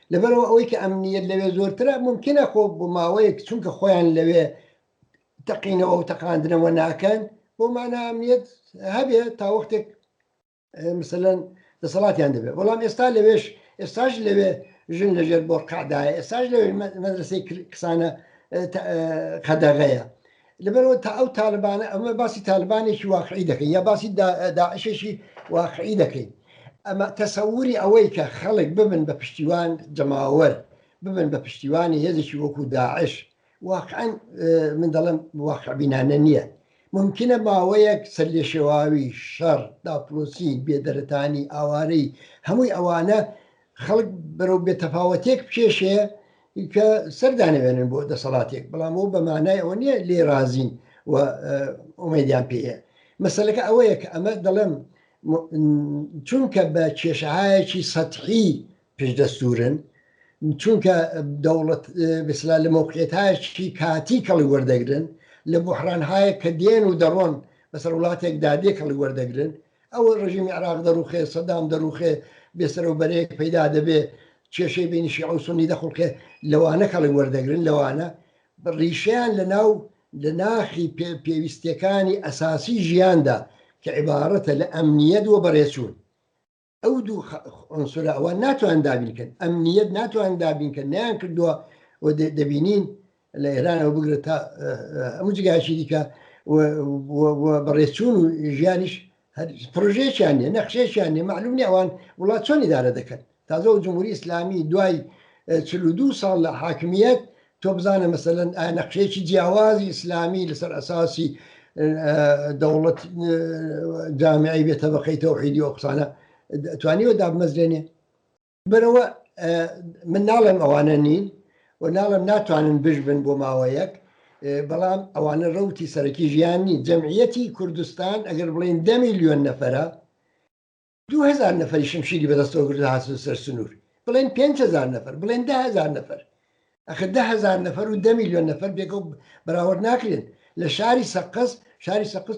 لەبەرئەوە ئەوەی کە ئەمنیت لەوێ زۆرترە ممکنە خۆ بۆ ماوەیەک چونکە خۆیان لەوێ تەقینەوە و تەقاندنەوە ناکەن بۆ مانا ئەمنیت هەبێ تا وەختێک مثلەن دەسەڵاتیان دەبێت بەڵام ئێستا لەوێش ئێستاش لەوێ ژن لەژێر بۆ قعدایە ئێستاش لەوێ مەدرسەی کسانە قەدەغەیە لەبەرئەوە تا ئەو تالبانە ئەمە باسی تالبانێکی واقعی دەکەین یا باسی داعشێکی واقعی دەکەین ئەمە تەسەوری ئەوەی کە خەڵک ببن بە پشتیوان جەماوەر ببن بە پشتیوانی هێزێکی وەکو داعش واقعەن من دەڵم واقعبینانە نییە ممکنە ماوەیەک سەر لێ شێواوی شەڕ داپلۆسی بێدەرەتانی ئاوارەی هەمووی ئەوانە خەڵک بەرەو بێتەفاوەتێک بکێشێ کە سەردانەوێنن بۆ دەسەڵاتێک بەڵام ئەو بە مانای ئەوە نییە لێ رازین و ئۆمەدیان پێەیە مەسلەکە ئەوەیە کە ئەمە دەڵێم چونکە بە کێشەهایەکی سەتحی پێشدەستورن چونکە دەوڵەت بسلا لە مۆقعێتایشی کاتی کەڵی وەردەگرن لە بحرانهایە کە دێن و دەڕۆن بەسەر وڵاتێکدا دێ کەڵی وەردەگرن ئەوە ڕژیمی عراق دەڕوخێ سەدام دەڕوخێ بێسەرەوە بەرەیەک پەیدا دەبێ کێشەی بینی شیعە و سنی دەخڵقێ لەوانە کەڵک وەردەگرن لەوانە ڕیشیان لە ناو لە ناخی پێویستەکانی ئەساسی ژیاندا کە عیباڕەتە لە ئەمنیەت وە بەڕێچوون ئەو دوو ئەنسورە ئەوە ناتوان دابینکەن ئەمنیەت ناتوان دابینکە نیان کردووە و دەبینین لە ئێرانەوە بگرە تا هەموو جگاشی دیکە بەڕێچوون و ژیانیش پرۆژێکیان نیە نەخشێکیان نیە معلوم نیە ئەوان وڵات چۆن ئیدارە دەکەن تازە و جمهوری ئسلامی دوای چلو دو ساڵ لە حاکمیت تۆ بزانە مەسەن نەخشێکی جیاوازی ئیسلامی لەسەر ئەساسی دەوڵەت جامعی بێتە بەقەی تەوحیدی ئۆقسانە توانیوە دابمەزرێنێ بەرەوە من ناڵێم ئەوانە نین و ناڵم ناتوانن بژبن بۆ ماوەیەک بەڵام ئەوانە ڕوتی سەرەکی ژیان نی جەمعەتی کوردستان ئەگەر بڵین دە میلیۆن نەفرە دوهزار نەفری شمشیری بەدەستەوە گرد هاات سەر سنوور بڵێن 5هزار نەفر بڵێن دههزار نەفر ئەخە دە هەزار نەفەر و دە میلیۆن نەفەر بێکەوە بەراورد ناکرێن لە شاری سەقز شاری سەقز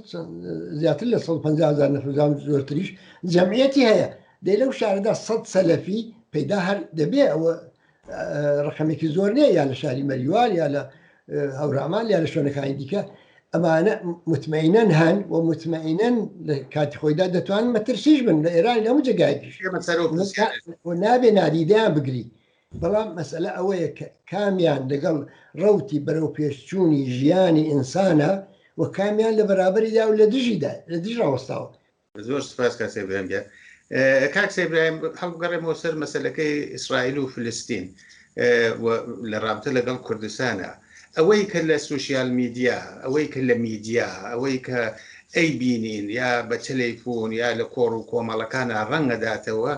زیاتر لە 150هزار نەفرزان زۆرتریش جەمعەتی هەیە دەی لەو شاردا سە سەلەفی پەیدا هەر دەبێ ئەوە ڕقەمێکی زۆر نیە یا لە شاری مەریوان یا لە هەورامان یا لە شوێنەکانی دیکە ئەمانە متمەینەن هەن و متمەینەن لە کاتی خۆیدا دەتوان مەترسیش بن لە ئێران لەمو جگایکیش نابێ نادیدەیان بگری بەڵام مەسەلە ئەوەیە کە کامیان لەگەڵ ڕەوتی بەرەوپێشچوونی ژیانی ئینسانە و کامیان لە بەرابەریدا و لە دژیدا لە دژ ڕاوەستاوە زۆر سپاس کاک سەیبراهیم گیان کاک سەیبراهیم هەڵبگەڕێمەوە سەر مەسلەکەی ئیسرائیل و فلستین لە ڕابتە لەگەڵ کوردستانە ئەوەی کە لە سوسیال میدیا ئەوەی کە لە میدیا ئەوەی کە ئەی بینین یا بە تەلەیفۆن یا لە کۆڕ و کۆمەڵەکانە ڕەنگەداتەوە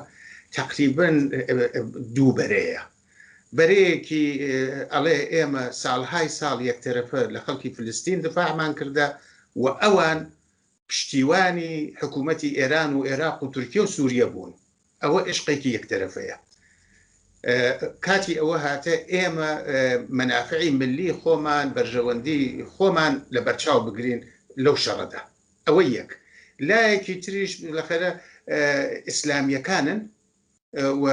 تەقریبەن دوو بەرەیە بەرەیەکی ئەڵێ ئێمە ساڵهای ساڵ یەکتەرەفە لە خەڵکی فلستین دفاعمان کردە و ئەوان پشتیوانی حکوومەتی ئێران و عێراق و تورکیا و سووریە بوون ئەوە عشقێکی یەکتەرەفەیە کاتی ئەوە هاتە ئێمە مەنافعی ملی خۆمان بەرژەوەندی خۆمان لە بەرچاو بگرین لەو شەڕەدا ئەوە یەک لایەکی تریش لەخەرە ئیسلامیەکانن و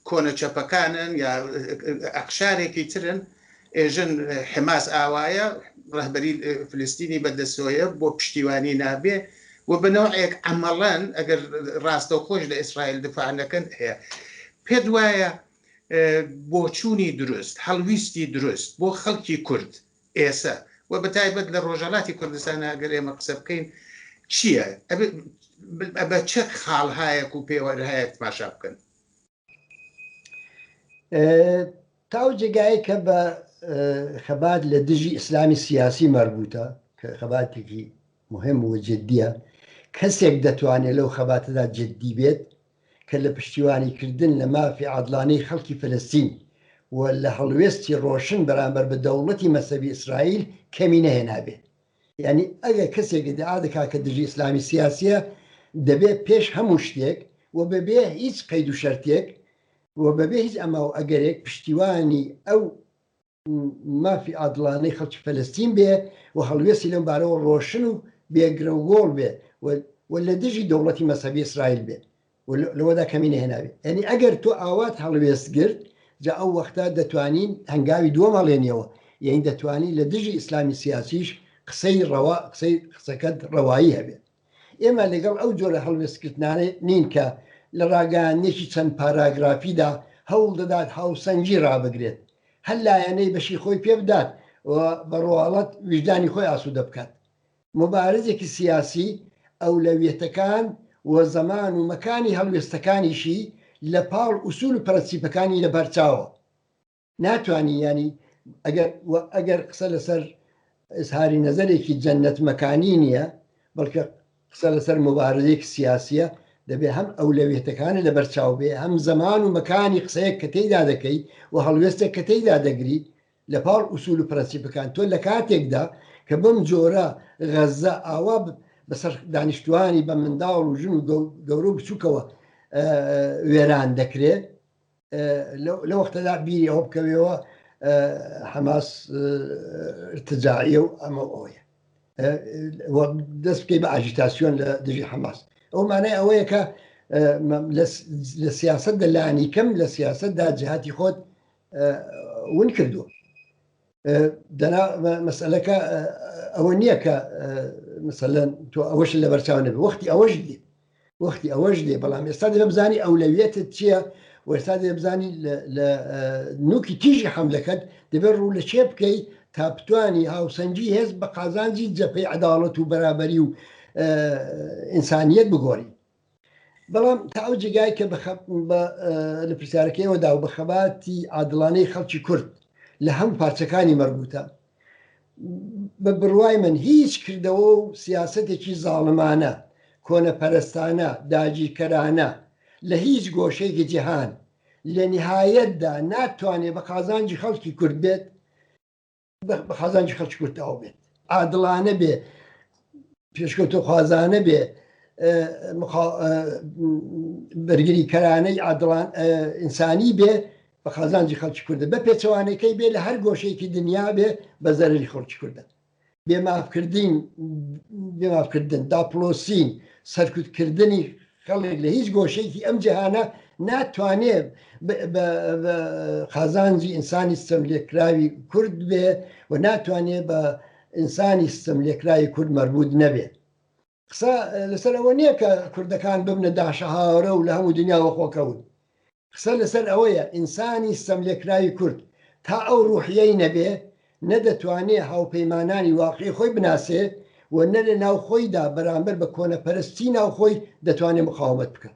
کۆنە چەپەکانن یا ئەقشارێکی ترن ئێژن حماس ئاوایە ڕهبەری فلستینی بەدەسۆیە بۆ پشتیوانی نابێ و بنەوەیەک ئەمەڵەن ئەگەر ڕاستە و خۆش لە ئیسرائیل دفاعەکەن هەیە پێت وایە بۆچوونی دروست هەڵویستی دروست بۆ خەڵکی کورد ئێسە وە بە تایبەت لە ڕۆژەڵاتی کوردستان ئەگەر ئێمە قسە بکەین چییە بە چ خاڵهایەک و پێوەرهایەک تماشا بکەن تاو جێگای کە بە خەبات لە دژی ئیسلامی سیاسی مەربووتە کە خەباتێکی مهم و جددیە کەسێک دەتوانێت لەو خەباتەدا جددی بێت کە لە پشتیوانیکردن لە مافی عادڵانەی خەڵکی فەلەستین و لە هەڵوێستی ڕۆشن بەرامبەر بە دەوڵەتی مەزهەبی ئیسرائیل کەمی نەهێنابێ. یانی ئەگەر کەسێک ئیدعا دەکا کە دژی ئیسلامی سیاسییە، دەبێ پێش هەموو شتێک و بەبێ هیچ قەید و شەرتێک و بەبێ هیچ ئەما و ئەگەرێک پشتیوانی ئەو مافی عادڵانەی خەڵکی فەلەستین بێ و هەڵوێستی لەم بارەوە ڕۆشن و بێ گرەوگۆڵ بێ و و لە دژی دەوڵەتی مەزهەبی ئیسرائیل بێ و لەوەدا کەمی نەهێنابێ یانی ئەگەر تۆ ئاوات هەڵوێست گرت جا ئەو وەختە دەتوانین هەنگاوی دووەم هەڵێنیەوە یانی دەتوانین لە دژی ئیسلامی سیاسیش قسەی ڕەوا قسەی قسەکەت ڕەوایی هەبێ. ئێمە لەگەڵ ئەو جۆرە هەڵوێستکردنانە نین کە لە ڕاگەیاندنێکی چەند پاراگرافیدا هەوڵ دەدات هاوسەنگی ڕابگرێت، هەر لایەنەی بەشی خۆی پێ بدات و بە ڕواڵەت ویژدانی خۆی ئاسوودە بکات. موبارزێکی سیاسی ئەولەویەتەکان و زەمان و مەکانی هەڵوێستەکانیشی لە پاڵ ئوسوول و پرەنسیپەکانی لە بەرچاوە. ناتوانی یانی ئەگەر و ئەگەر قسە لەسەر ئزهاری نەزەرێکی جەنەت مەکانی نییە بەڵکە قسە لەسەر مبارزێک سیاسیە دەبێ هەم ئەولەویێتەکانی لە بەرچاو بێ هەم زەمان و مەکانی قسەیەک کە تێیدا دەکەی و هەڵوێستێک کە تێیدا دەگری لە پاڵ ئووسول و پرەنسیپەکان تۆ لە کاتێکدا کە بەم جۆرە غەزە ئاوا بەسەر دانیشتوانی بە منداڵ و ژن و گەورە و بچووکەوە وێران دەکرێت لە وەختەدا بیری ئەوە بکەوێەوە حەماس ارتجاعە و ئەمە ئەوەیە دەست بکەی بە ئاژیتاسیۆن لە دژی حەماس ئەو مانای ئەوەیە کە لە سیاست دەلانی کەم لە سیاستدا جهاتی خۆت ون کردووە دەنا مەسلەکە ئەوە نییە کە مثلەن تۆ ئەوەش لە بەرچاو نەبێ وەختی ئەوەش دی وەختی ئەوەش دێ بەڵام ئێستا دێ بزانانی ئەولەویەتت چییە وەستا دێ بزانانی لە نوکی تیژی حملەکەت دەبێت ڕوو لە چێ بکەیت تا بتانی هاوسەنگی هێز بە قازانجی جەپەی عداڵەت و بەرابەری و ئینسانیت بگۆری بەڵام تا ئەو جێگای کە لە پرسیارەکەیەوەدا و بە خەباتی عادڵانەی خەڵکی کورد لە هەم پارچەکانی مەربووتە بە بڕوای من هیچ کردەوە و سیاستێکی زاڵمانە کۆنەپەرستانە داگیرکەرانە لە هیچ گۆشەیەکی جیهان لە نهایەتدا ناتوانێت بە قازانجی خەڵکی کورد بێت بەخازانجی خەڵکی کورد تەواو بێت عادڵانە بێ پێشکەوتە خوازانە بێ بەرگری کەرانەی عادڵان ئینسانی بێ بە خازانجی خەڵکی کوردە بە پێچەوانەکەی بێ لە هەر گۆشەیەکی دنیا بێ بە زەرری خەڵکی کوردە بێمافکردین بێمافکردن داپلۆسین سەرکوتکردنی خەڵک لە هیچ گۆشەیەکی ئەم جیهانە ناتوانێ بە قازانجی ئینسانی ستەملێکراوی کورد بێ و ناتوانێ بە ئینسانی ستەملێکراوی کورد مەربوط نەبێ قسە لەسەر ئەوە نییە کە کوردەکان ببنە داشەهاوەرە و لە هەموو دنیاوە خۆکەون قسە لەسەر ئەوەیە ئینسانی ستەملێکراوی کورد تا ئەو روحیەی نەبێ نە دەتوانێ هاوپەیمانانی واقعی خۆی بناسێ و نە لە ناو خۆیدا بەرامبەر بە کۆنەپەرستی ناو خۆی دەتوانێ مقاومەت بکا.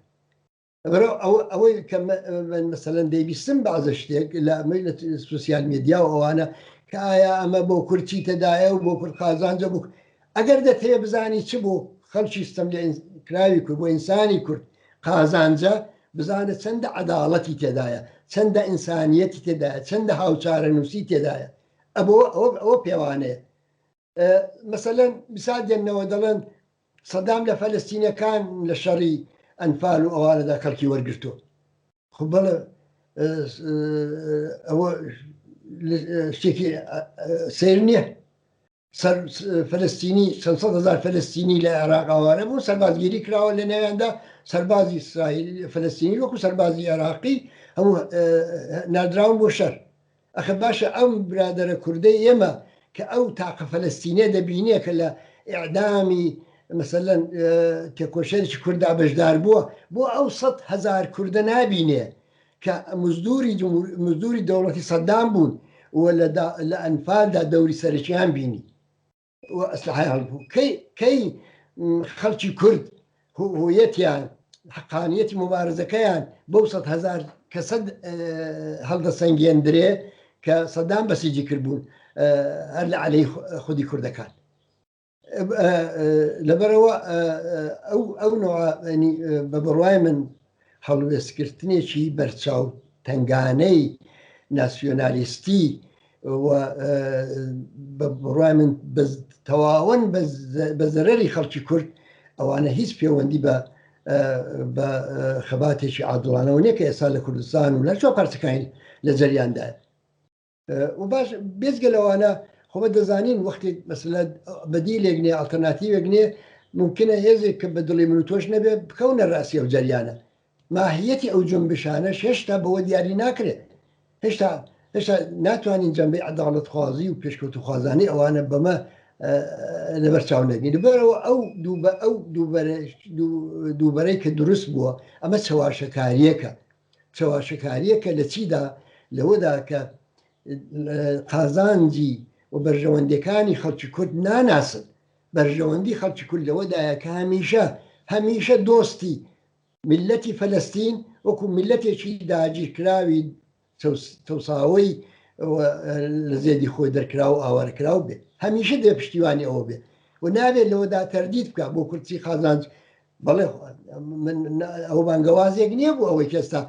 لەبەرئەوە ئەوە ئەوەی کە من مەسەلەن دەیبیستم بەعزە شتێک لە ئەمەی لە سوسیال مێدیا و ئەوانە کە ئایا ئەمە بۆ کورد چیتەدایە و بۆ کورد قازانجە بوو ئەگەر دەتەوێ بزانی چ بۆ خەڵکی ستەملێکراوی کورد، بۆ ئینسانی کورد قازانجە، بزانە چەندە عەداڵەتی تێدایە، چەندە ئینسانییەتی تێدایە، چەندە هاوچارەنووسی تێدایە. ئەبۆ ئەوە پێوانەیە. مەسەلەن میسال دێننەوە دەڵێن سەدام لە فەلەستینەکان لە شەڕی ئەنفال و ئەوانەدا خەڵکی وەرگرتو خو بەڵێ ئەوە شتێکی سیر نییە سەر فلستینی چەند سەد هزار فلستینی لە عێراق ئاوارە بوو سەربازگیری کراوە لە ناویاندا سەربازی ئیسرائیل فلستینی وەکو سەربازی عێراقی هەموو نادراون بۆ شەر ئەخە باشە ئەم برادرە کوردەی ئێمە کە ئەو تاقە فلستینە دەبینێ کە لە ئعدامی مثلەن تێکۆشێکی کوردا بەشدار بووە بۆ ئەو سە هزار کوردە نابینێ کە مزدوری دەوڵەتی سەدام بوون و لە ئەنفالدا دەوری سەرەکیان بینی و ئەسلحەیان هەڵبوو کەی خەڵکی کورد هویەتیان حقانیەتی مبارزەکەیان بەو سە هزار کە سە هەڵدە سەنگێندرێ کە سەدان بەسیجی کردبوون هەر لە علەی خودی کوردەکان لەبەرەوە ئەو ئەو نوعانی بە بڕوای من هەڵوێستکردنێکی بەرچاو تنگانەی ناسیۆنالیستی بە بڕای من تەواون بە زەرری خەڵکی کورد ئەوانە هیچ پەیوەندی بە بە خەباتێکی عادڵانەوە نیە کە ئێستا لە کوردستان و لە چۆ پارتەکانی لە جەریاندایە و باش بێزگە لەوانە خۆمە دەزانین وەختێک مەسلە بەدی لێگنێ ئەلتەرناتیوێک نێ ممکنە هێزێک کە بە دڵی من و تۆش نەبێ بکەونە ڕاستی ئەو جەریانە ماهیەتی ئەو جنبشانە هێشتا بەوە دیاری ناکرێت هێشتا هێشتا ناتوانین جەمبی عداڵت خوازی و پێشکەوت و خوازانانی ئەوانە بەمە لەبەر چاو نەگەین بەرەوە ئەو دووبە ئەو دووبەرەی کە دروست بووە ئەمە چەواشەکاریەکە چەواشەکارییەکە لە چیدا؟ لەوەدا کە قازانجی و بەرژەوەندیەکانی خەڵکی کورد ناناسن، بەرژەوەندی خەڵکی کورد لەوەدایە کە هەمیشە هەمیشە دۆستی میللەتی فەلەستین وەکو میللەتێکی داگیرکراوی چەوساوەی لە زێدی خۆی دەرکرا و ئاوارەکراو بێت هەمیشە دێ پشتیوانی ئەوە بێت و نابێت لەوەدا تەردید بکە بۆ کورسی قازانج بەڵێ ئەو بانگەوازێک نییە بوو ئەوەی کێستا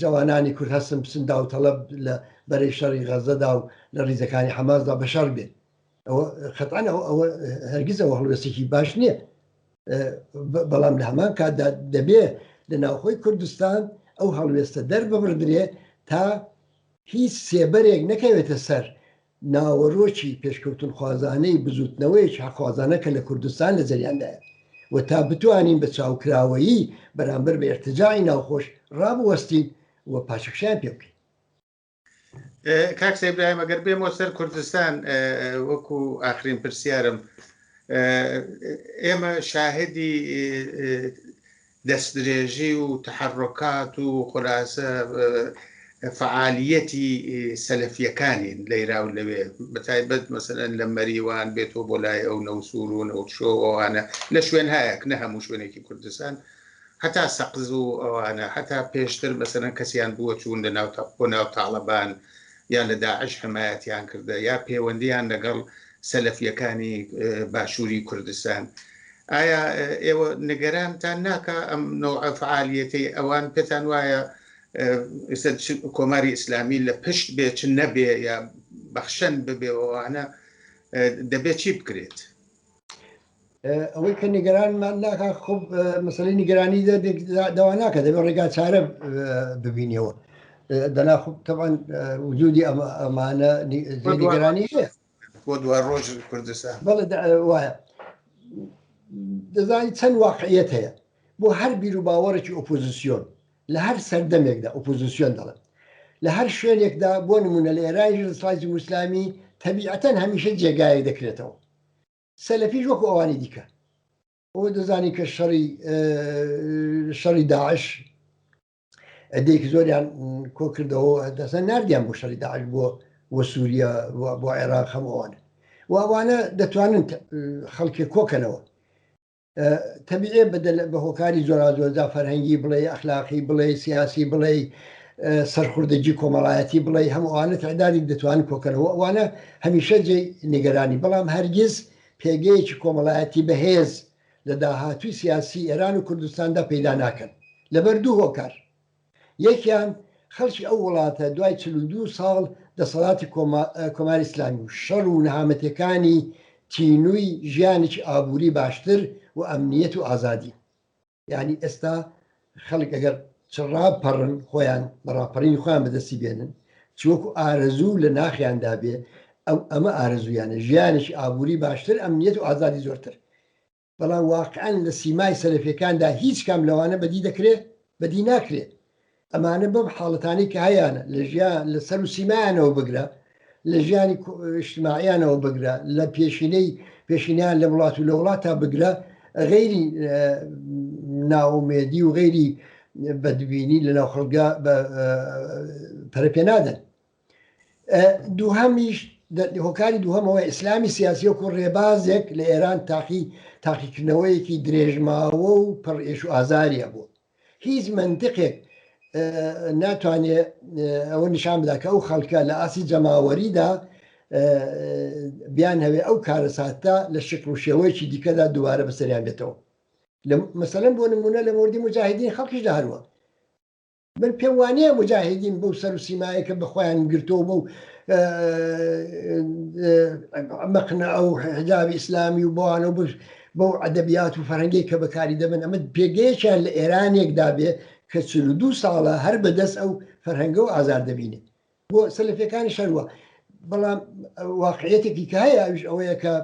جوانانی کورد هەستن بچن داوتەڵب لە بەرەی شەڕی غەزەدا و لە ریزەکانی حەمازدا بە شەڕ بێت ئەوە خەتان ئەوە هەرگیز ئەوە هەڵوێستێکی باش نییە بەڵام لە هەمان کاتدا دەبێ لە ناوخۆی کوردستان ئەو هەڵوێستە دەرببردرێ تا هیچ سێبەرێک نەکەوێتە سەر ناوەرۆکی پێشکەوتنخوازانەی بزووتنەوەیەکی حەقخوازانە کە لە کوردستان لە جەریاندایە و تا بتوانین بە چاوکراوەیی بەرامبەر بە ئیرتجاعی ناوخۆش ڕابوەستین و پاشەکشەیان پێ بکەین. کاک سەید ئیبراهیم ئەگەر بێمەوە سەر کوردستان وەکو ئاخرین پرسیارم ئێمە شاهدی دەستدرێژی و تەحەررۆکات و خولاسە فەعالییەتی سەلەفییەکانین لەیرا و لەوێ، بەتایبەت مەسەلەن لە مەریوان بێتەوە بۆ لای ئەو نەوسوور و نەوتشۆ و ئەوانە لە شوێنهایەک نە هەموو شوێنێکی کوردستان هەتا سەقز و ئەوانە هەتا پێشتر مەسەلەن کەسیان بووە چوون لە ناو بۆ ناو تاڵەبان یا لە داعش حمایەتیان کردە یا پەیوەندیان لەگەڵ سەلەفیەکانی باشوری کوردستان ئایا ئێوە نگەرانتان ناکە ئەم نەوعە فعالیەتەی ئەوان پێتان وایە کۆماری ئیسلامی لە پشت بێ چ نەبێ یا بەخشەن ببێەوەوانە دەبێت چی بکرێت ئەوەی کە نیگەرانمان ناکە خب مەسلی نیگەرانی دەواناکە دەبێت ڕێگا چارە ببینیەوە دەنا خب تەوان وجودی ئەمانە نیگەرانی بۆ دو ڕۆژ کوردستان بەڵێ وایە دەزانی چەند واقعیت هەیە بۆ هەر بیر و باوەڕێکی ئۆپۆزیسیۆن لە هەر سەردەمێکدا ئۆپۆزیسیۆن دەڵێم لە هەر شوێنێکدا بۆ نمونە لە ئێرانیش دەسەڵاتی جمهوریسلامی تەبیعەتەن هەمیشە جێگایەک دەکرێتەوە سەلەفیش وەکو ئەوانی دیکە ئەو دەزانی کە شەڕی شەڕی داعش دێک زۆریان کۆ کردەوە دەسە نردیان بۆ شەڕی داعش بۆ بۆ سووریا بۆ عێراق هەمووانە ووانە دەتوانن خەڵکی کۆکەنەوە تەبیعیە بە هۆکاری جۆراجۆردا فەرهەنگی بڵێ ئەخلاقی بڵێ سیاسی بڵێ سەرخوردەجی کۆمەڵایەتی بڵێ هەمووانە تعدادی دەتوان کۆکەرەوە ئەوانە هەمیشە جێ نیگەرانی بەڵام هەرگیز پێگەیەکی کۆمەڵایەتی بەهێز لە داهاتوی سیاسی ئێران و کوردستاندا پەیدا ناکەن لەبەر دوو هۆکار یەکیان خەڵکی ئەو وڵاتە دوای چل و دوو ساڵ دەسەڵاتی کۆماری ئیسلامی و شەڕ و نەهامەتیەکانی تینووی ژیانێکی ئابووری باشتر و ئەمنیەت و ئازادی یانی ئێستا خەڵک ئەگەر چ ڕاپەڕن خۆیان بە ڕاپەڕینی خۆیان بەدەستی بێنن چوەکو ئارەزوو لە ناخیاندا بێ ئەو ئەمە ئارەزویانە ژیانێکی ئابووری باشتر ئەمنیەت و ئازادی زۆرتر بەڵام واقعەن لە سیمای سەلەفیەکاندا هیچ کام لەوانە بەدی دەکرێ؟ بەدی ناکرێ. ئەمانە بەم حاڵەتانەی کە هەیانە لە ژیان لە سەر و سیمایانەوە بگرە لە ژیانی ئشتماعیانەوە بگرە لە پێشینەی پێشینیان لە وڵات و لە وڵات تا بگرە غەیری ناومێدی و غەیری بەدبینی لە ناو خەڵگە پەرە پێ نادەن دووهەمیش هۆکاری دووهەمەوە ئیسلامی سیاسی وەکو ڕێبازێک لە ئێران تاقی تاقیکردنەوەیەکی درێژماوە و پڕ ئێش و ئازاریە بوو هیچ منتقێک ناتوانێت ئەوە نیشان بدا کە ئەو خەڵکە لە ئاسی جەماوەریدا بیان هەوێ ئەو کارەساتە لە شکڵ و شێوەیەکی دیکەدا دووارە بەسەریان بێتەوە مەسەلەن بۆ نمونە لە مردی مجاهدین خەڵکیش داروە من پێم وانیە مجاهیدین بەو سەر و سیمایە کە بەخۆیان گرتۆ بە و مەقنە ئەو حجابی ئیسلامی و بۆوانە بش بەو ئەدەبیات و فەرەنگی کە بەکاری دەبن ئەمە پێگەیەکیان لە ئێرانێکدا بێ کە چ دو ساڵە هەر بەدەست ئەو فەرهەنگە و ئازار دەبینێت بۆ سەلفەکانی شەروە بەڵام واقعەتێکی کە هەیە ئەوش ئەوەیە کە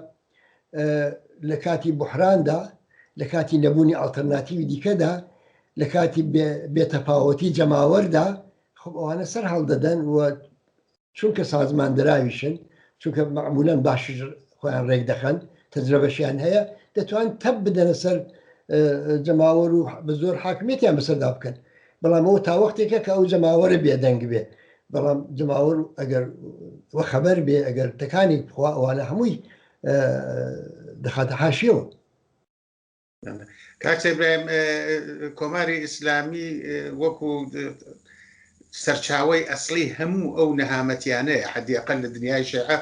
لە کاتی بحراندا لە کاتی نەبوونی ئاڵتەرناتیوی دیکەدا لە کاتی بێتەپاوەتی جەماوەردا خب ئەوانە سەر هەڵدەدەن و چونکە سازمان دراویشن چونکە معمولەن باش خۆیان ڕێک دەخەن تەجرەبەشیان هەیە دەتوان تەب بدەنە سەر جەماوەر و بە زۆر حاکمێتیان بەسەردا بکەن بەڵام ئەوە تاوەختێکە کە ئەو جەماوەرە بێدەنگ بێ بەڵام جەماوەر ئەگەر وەخەبەر بێ ئەگەر تەکانی بخوا ئەوانە هەمووی دەخاتە حاشیەوە کاکسەبرایم کۆماری ئیسلامی وەکو سەرچاوی ئەسلی هەموو ئەو نەهامەتیانەیە حدیقل لە دنیای شێعە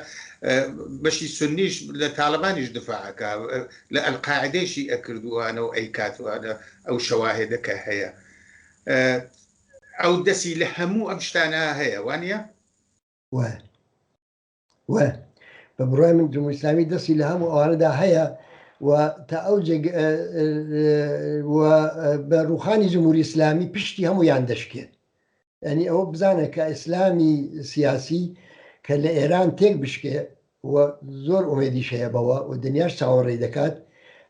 بەشی سنیش لە تاالبانیش دفاعەکە لە ئەلقاعدەیشی ئەکردوانە و ئەیکاتوانە ئەو شەواهێدە کە هەیە ئەو دەسی لە هەموو ئەم شتانە هەیە وانە وە بە بڕای من جموسلامی دەستی لە هەموو ئەوانەدا هەیە و تا ئەو بە ڕوخانی جمهوری ئسلامی پشتی هەموو یان دەشکێت ینی ئەوە بزانە کە ئیسلامی سیاسی کە لە ئێران تێک بشکێ و زۆر ئومێدیش هەیە بەوە و دنیاش چاوەڕێ دەکات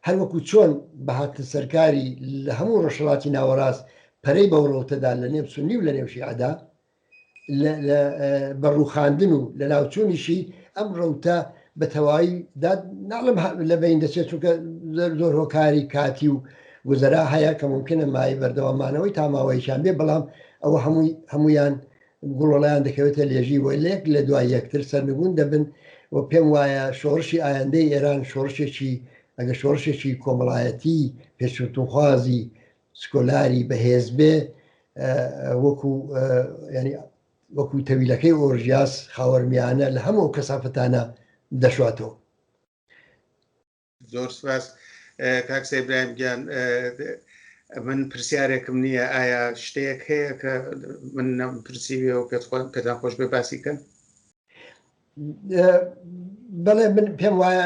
هەر وەکو چۆن بەهاتن سەرکاری لە هەموو ڕۆژهڵاتی ناوەڕاست پەرەی بەوڕڵتەدا لە نێو سنی و لە نێوشیعدا بە ڕوخاندن و لە ناوچوونیشی ئەم ڕوتە بە تەواوی داد ناڵم لە بین دەچێت چونکە زۆر هۆکاری کاتی و گوزەرا هەیە کە ممکنە مای بەردەوامانەوەی تاماوەیشان بێ بەڵام ئەوە هەمووی هەمویان گوڵۆڵیان دەکەوێتە لێژی وە لەک لە دوای یەکتر سەرنگون دەبن و پێم وایە شۆڕشی ئایندەی ئێران شۆڕشێکی ئەگە شۆڕشێکی کۆمەڵایەتی پێشوتونخوازی سکۆلاری بەهێز بێ وەکو ینی وەکو تەویلەکەی ئۆرژیاس خاوەرمیانە لە هەموو ئەو کەسافتانە دەشواتەوە. زۆر سپاس کاک سەیبراهیم گیان من پرسیارێکم نییە ئایا شتێک هەیە کە من نەم پرسیوێ و پێت خۆن پێتان خۆش بێ باسی کەن بەڵێ من پێم وایە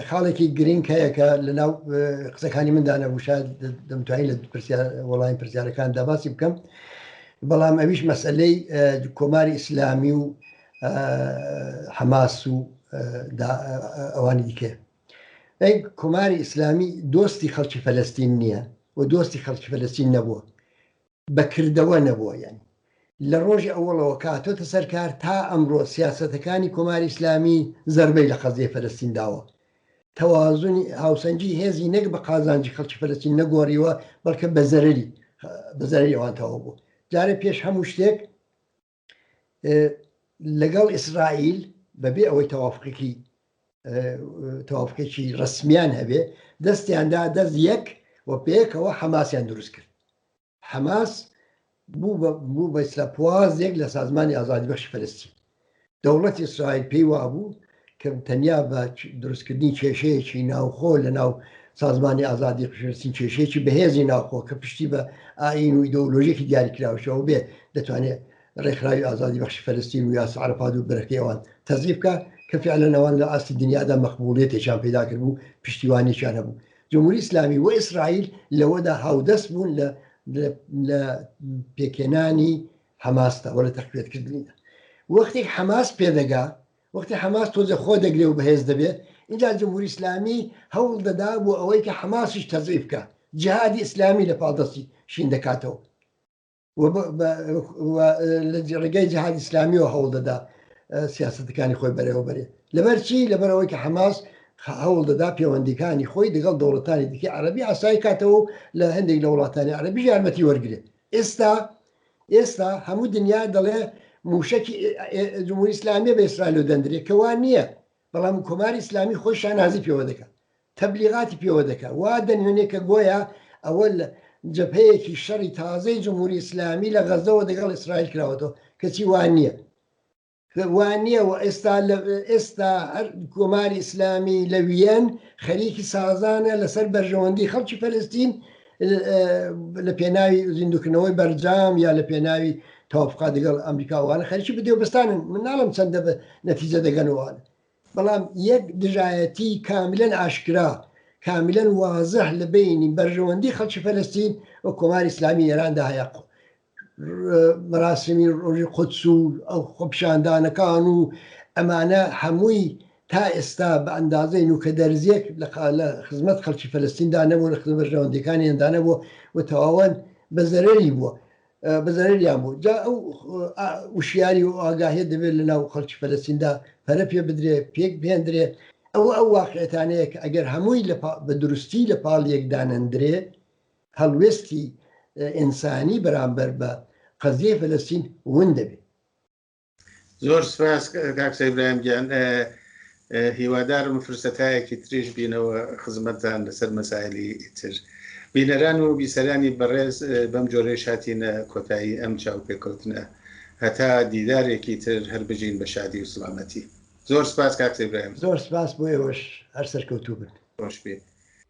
خاڵێکی گرنگ هەیە کە لە ناو قسەکانی مندا نەبوو شاید دەمتوانی لە وەڵامی پرسیارەکان داباسی بکەم بەڵام ئەویش مەسلەی کۆماری ئیسلامی و حەماس و ئەوانی دیکە ئەی کۆماری ئیسلامی دۆستی خەڵکی فەلستین نییە و دۆستی خەڵکی فەلستین نەبووە بە کردەوە نەبۆیەن. لە ڕۆژی ئەوەڵەوە کە هاتۆتە سەر کار تا ئەمڕۆ سیاسەتەکانی کۆماری ئیسلامی زەربەی لە قەزیەی فەلەستین داوە. تەوازونی هاوسەنگی هێزی نەک بە قازانجی خەڵکی فەلەستین نەگۆڕیوە بەڵکە بە زەرەری بە زەرەری ئەوان تەواو بووە. جارێ پێش هەموو شتێک. لەگەڵ ئیسرائیل بەبێ ئەوەی تەوافقێکی تەوافقێکی ڕسمیان هەبێ دەستیاندا دەست یەک و پێکەوە حەماسیان دروست کرد حەماس بوو بە ئیسراپوازێک لە سازمانی ئازادی بەخشی فلستی دەوڵەتی ئیسرائیل پێی وابوو کە تەنیا بە دروستکردنی کێشەیەکی ناوخۆ لە ناو سازمانی ئازادی قشرسین کێشەیەکی بەهێزی ناوخۆ کە پشتی بە ئاین و ئیدۆلۆژیکی دیاریکراوشەوە بێ دەتوانێت ڕێکخراوی ئازادی بەخشی فەرستین و یاس عرفاد و برەکەیەوان تەزیفکە کە فعلەنەوان لە ئاستی دنیادا مەقبوڵێتێکیان پیدا کرد بوو پشتیوانێکیان هەبوو جمهوری ئسلامی و ئیسرائیل لەوەدا هاودەست بوون لە لە پێکێنانی حەماستەوە لە تەقوێتکردنیدا وەختێک حەماس پێدەگا وەختی حەماس تۆزێ خۆ دەگرێ و بەهێز دەبێ، ئینجا جمهوری ئیسلامی هەوڵ دەدا بۆ ئەوەی کە حەماسیش تەزعیف بکا، جیهادی ئیسلامی لە پاڵ دەستی شین دەکاتەوە و لە ڕێگای جیهادی ئیسلامیەوە هەوڵ دەدا سیاسەتەکانی خۆی بەرێوە بەرێ. لەبەر چی؟ لەبەر ئەوەی کە حەماس هەوڵ دەدا پێوەندیکانی خۆی دەگەڵ دەوڵەتانی دیکەی عەرەبی ئاسای کاتەوە و لە هەندێک لە وڵاتانی عەرەبیش یارمەتی وەرگرێ. ئێستا ئێستا هەموو دنیا دەڵێ موشەکی جمهوری ئیسلامیە بە ئیسرائیلو دەندرێ کە وا نییە بەڵام کۆماری ئیسلامی خۆی شانازی پێوە دەکا تەبلیغاتی پێوە دەکا وا دەنوێنێ کە گۆیا ئەوە جبهەیەکی شەڕی تازەی جمهوری ئیسلامی لە غەزەوە دەگەڵ ئیسرائیل کراوەتەوە کەچی وا نییە وانیە و ئێستا لە ئێستا هەر کۆماری ئیسلامی لە ویەن خەریکی سازانە لەسەر بەرژەوەندی خەڵکی فەلستین لە پێناوی زیندوکردنەوەی بەرجام یا لە پێناوی تاوفقا دەگەڵ ئەمریکاوانە خەرکی بدێ و بستانن مناڵم چەندە بە نەتیجە دەگەنەوەوان بەڵام یەک دژایەتی کاملەن ئاشکرا کاملەن وازح لە بینی بەرژەوەندی خەڵکی فەلستین و کۆماری ئسلامی ئێراندا هەیەق مەراسیمی ڕۆژی قودس و ئەو خۆپیشاندانەکان و ئەمانە هەمووی تا ئێستا بە ئەندازەی نوکە دەرزیەک لە خزمەت خەڵکی فەلستیندا نەبوو لە خزمەت بەرژەوەندەکانیاندا نەبوو و تەواوەن بە زەرەری بووە بە زەرەریان بوو جا ئەو وشیاری و ئاگاهێ دەبێت لە ناو خەڵکی فەلستیندا پەرە پێ بدرێ پێک بهێندرێ ئەوە ئەو واقعێتانەیە کە ئەگەر هەمووی بە دروستی لە پاڵ یەکدانەندرێ هەڵوێستی ئینسانی بەرامبەر بە قەزیەی فەلەستین ون دەبێت. زۆر سپاس کاک سەید برایم گیان هیوادارم فرسەتایەکی تریش بینەوە خزمەتتان لەسەر مەسایلی تر بینەران و بیسەرانی بەڕێز بەم جۆرەی شاتینە کۆتایی ئەم چاوپێکەوتنە هەتا دیدارێکی تر هەر بژین بە شادی و سڵامەتی زۆر سپاس کاک سەید برایم زۆر سپاس بۆ ئێوەش هەر سەرکەوتوو بن. خۆش بێ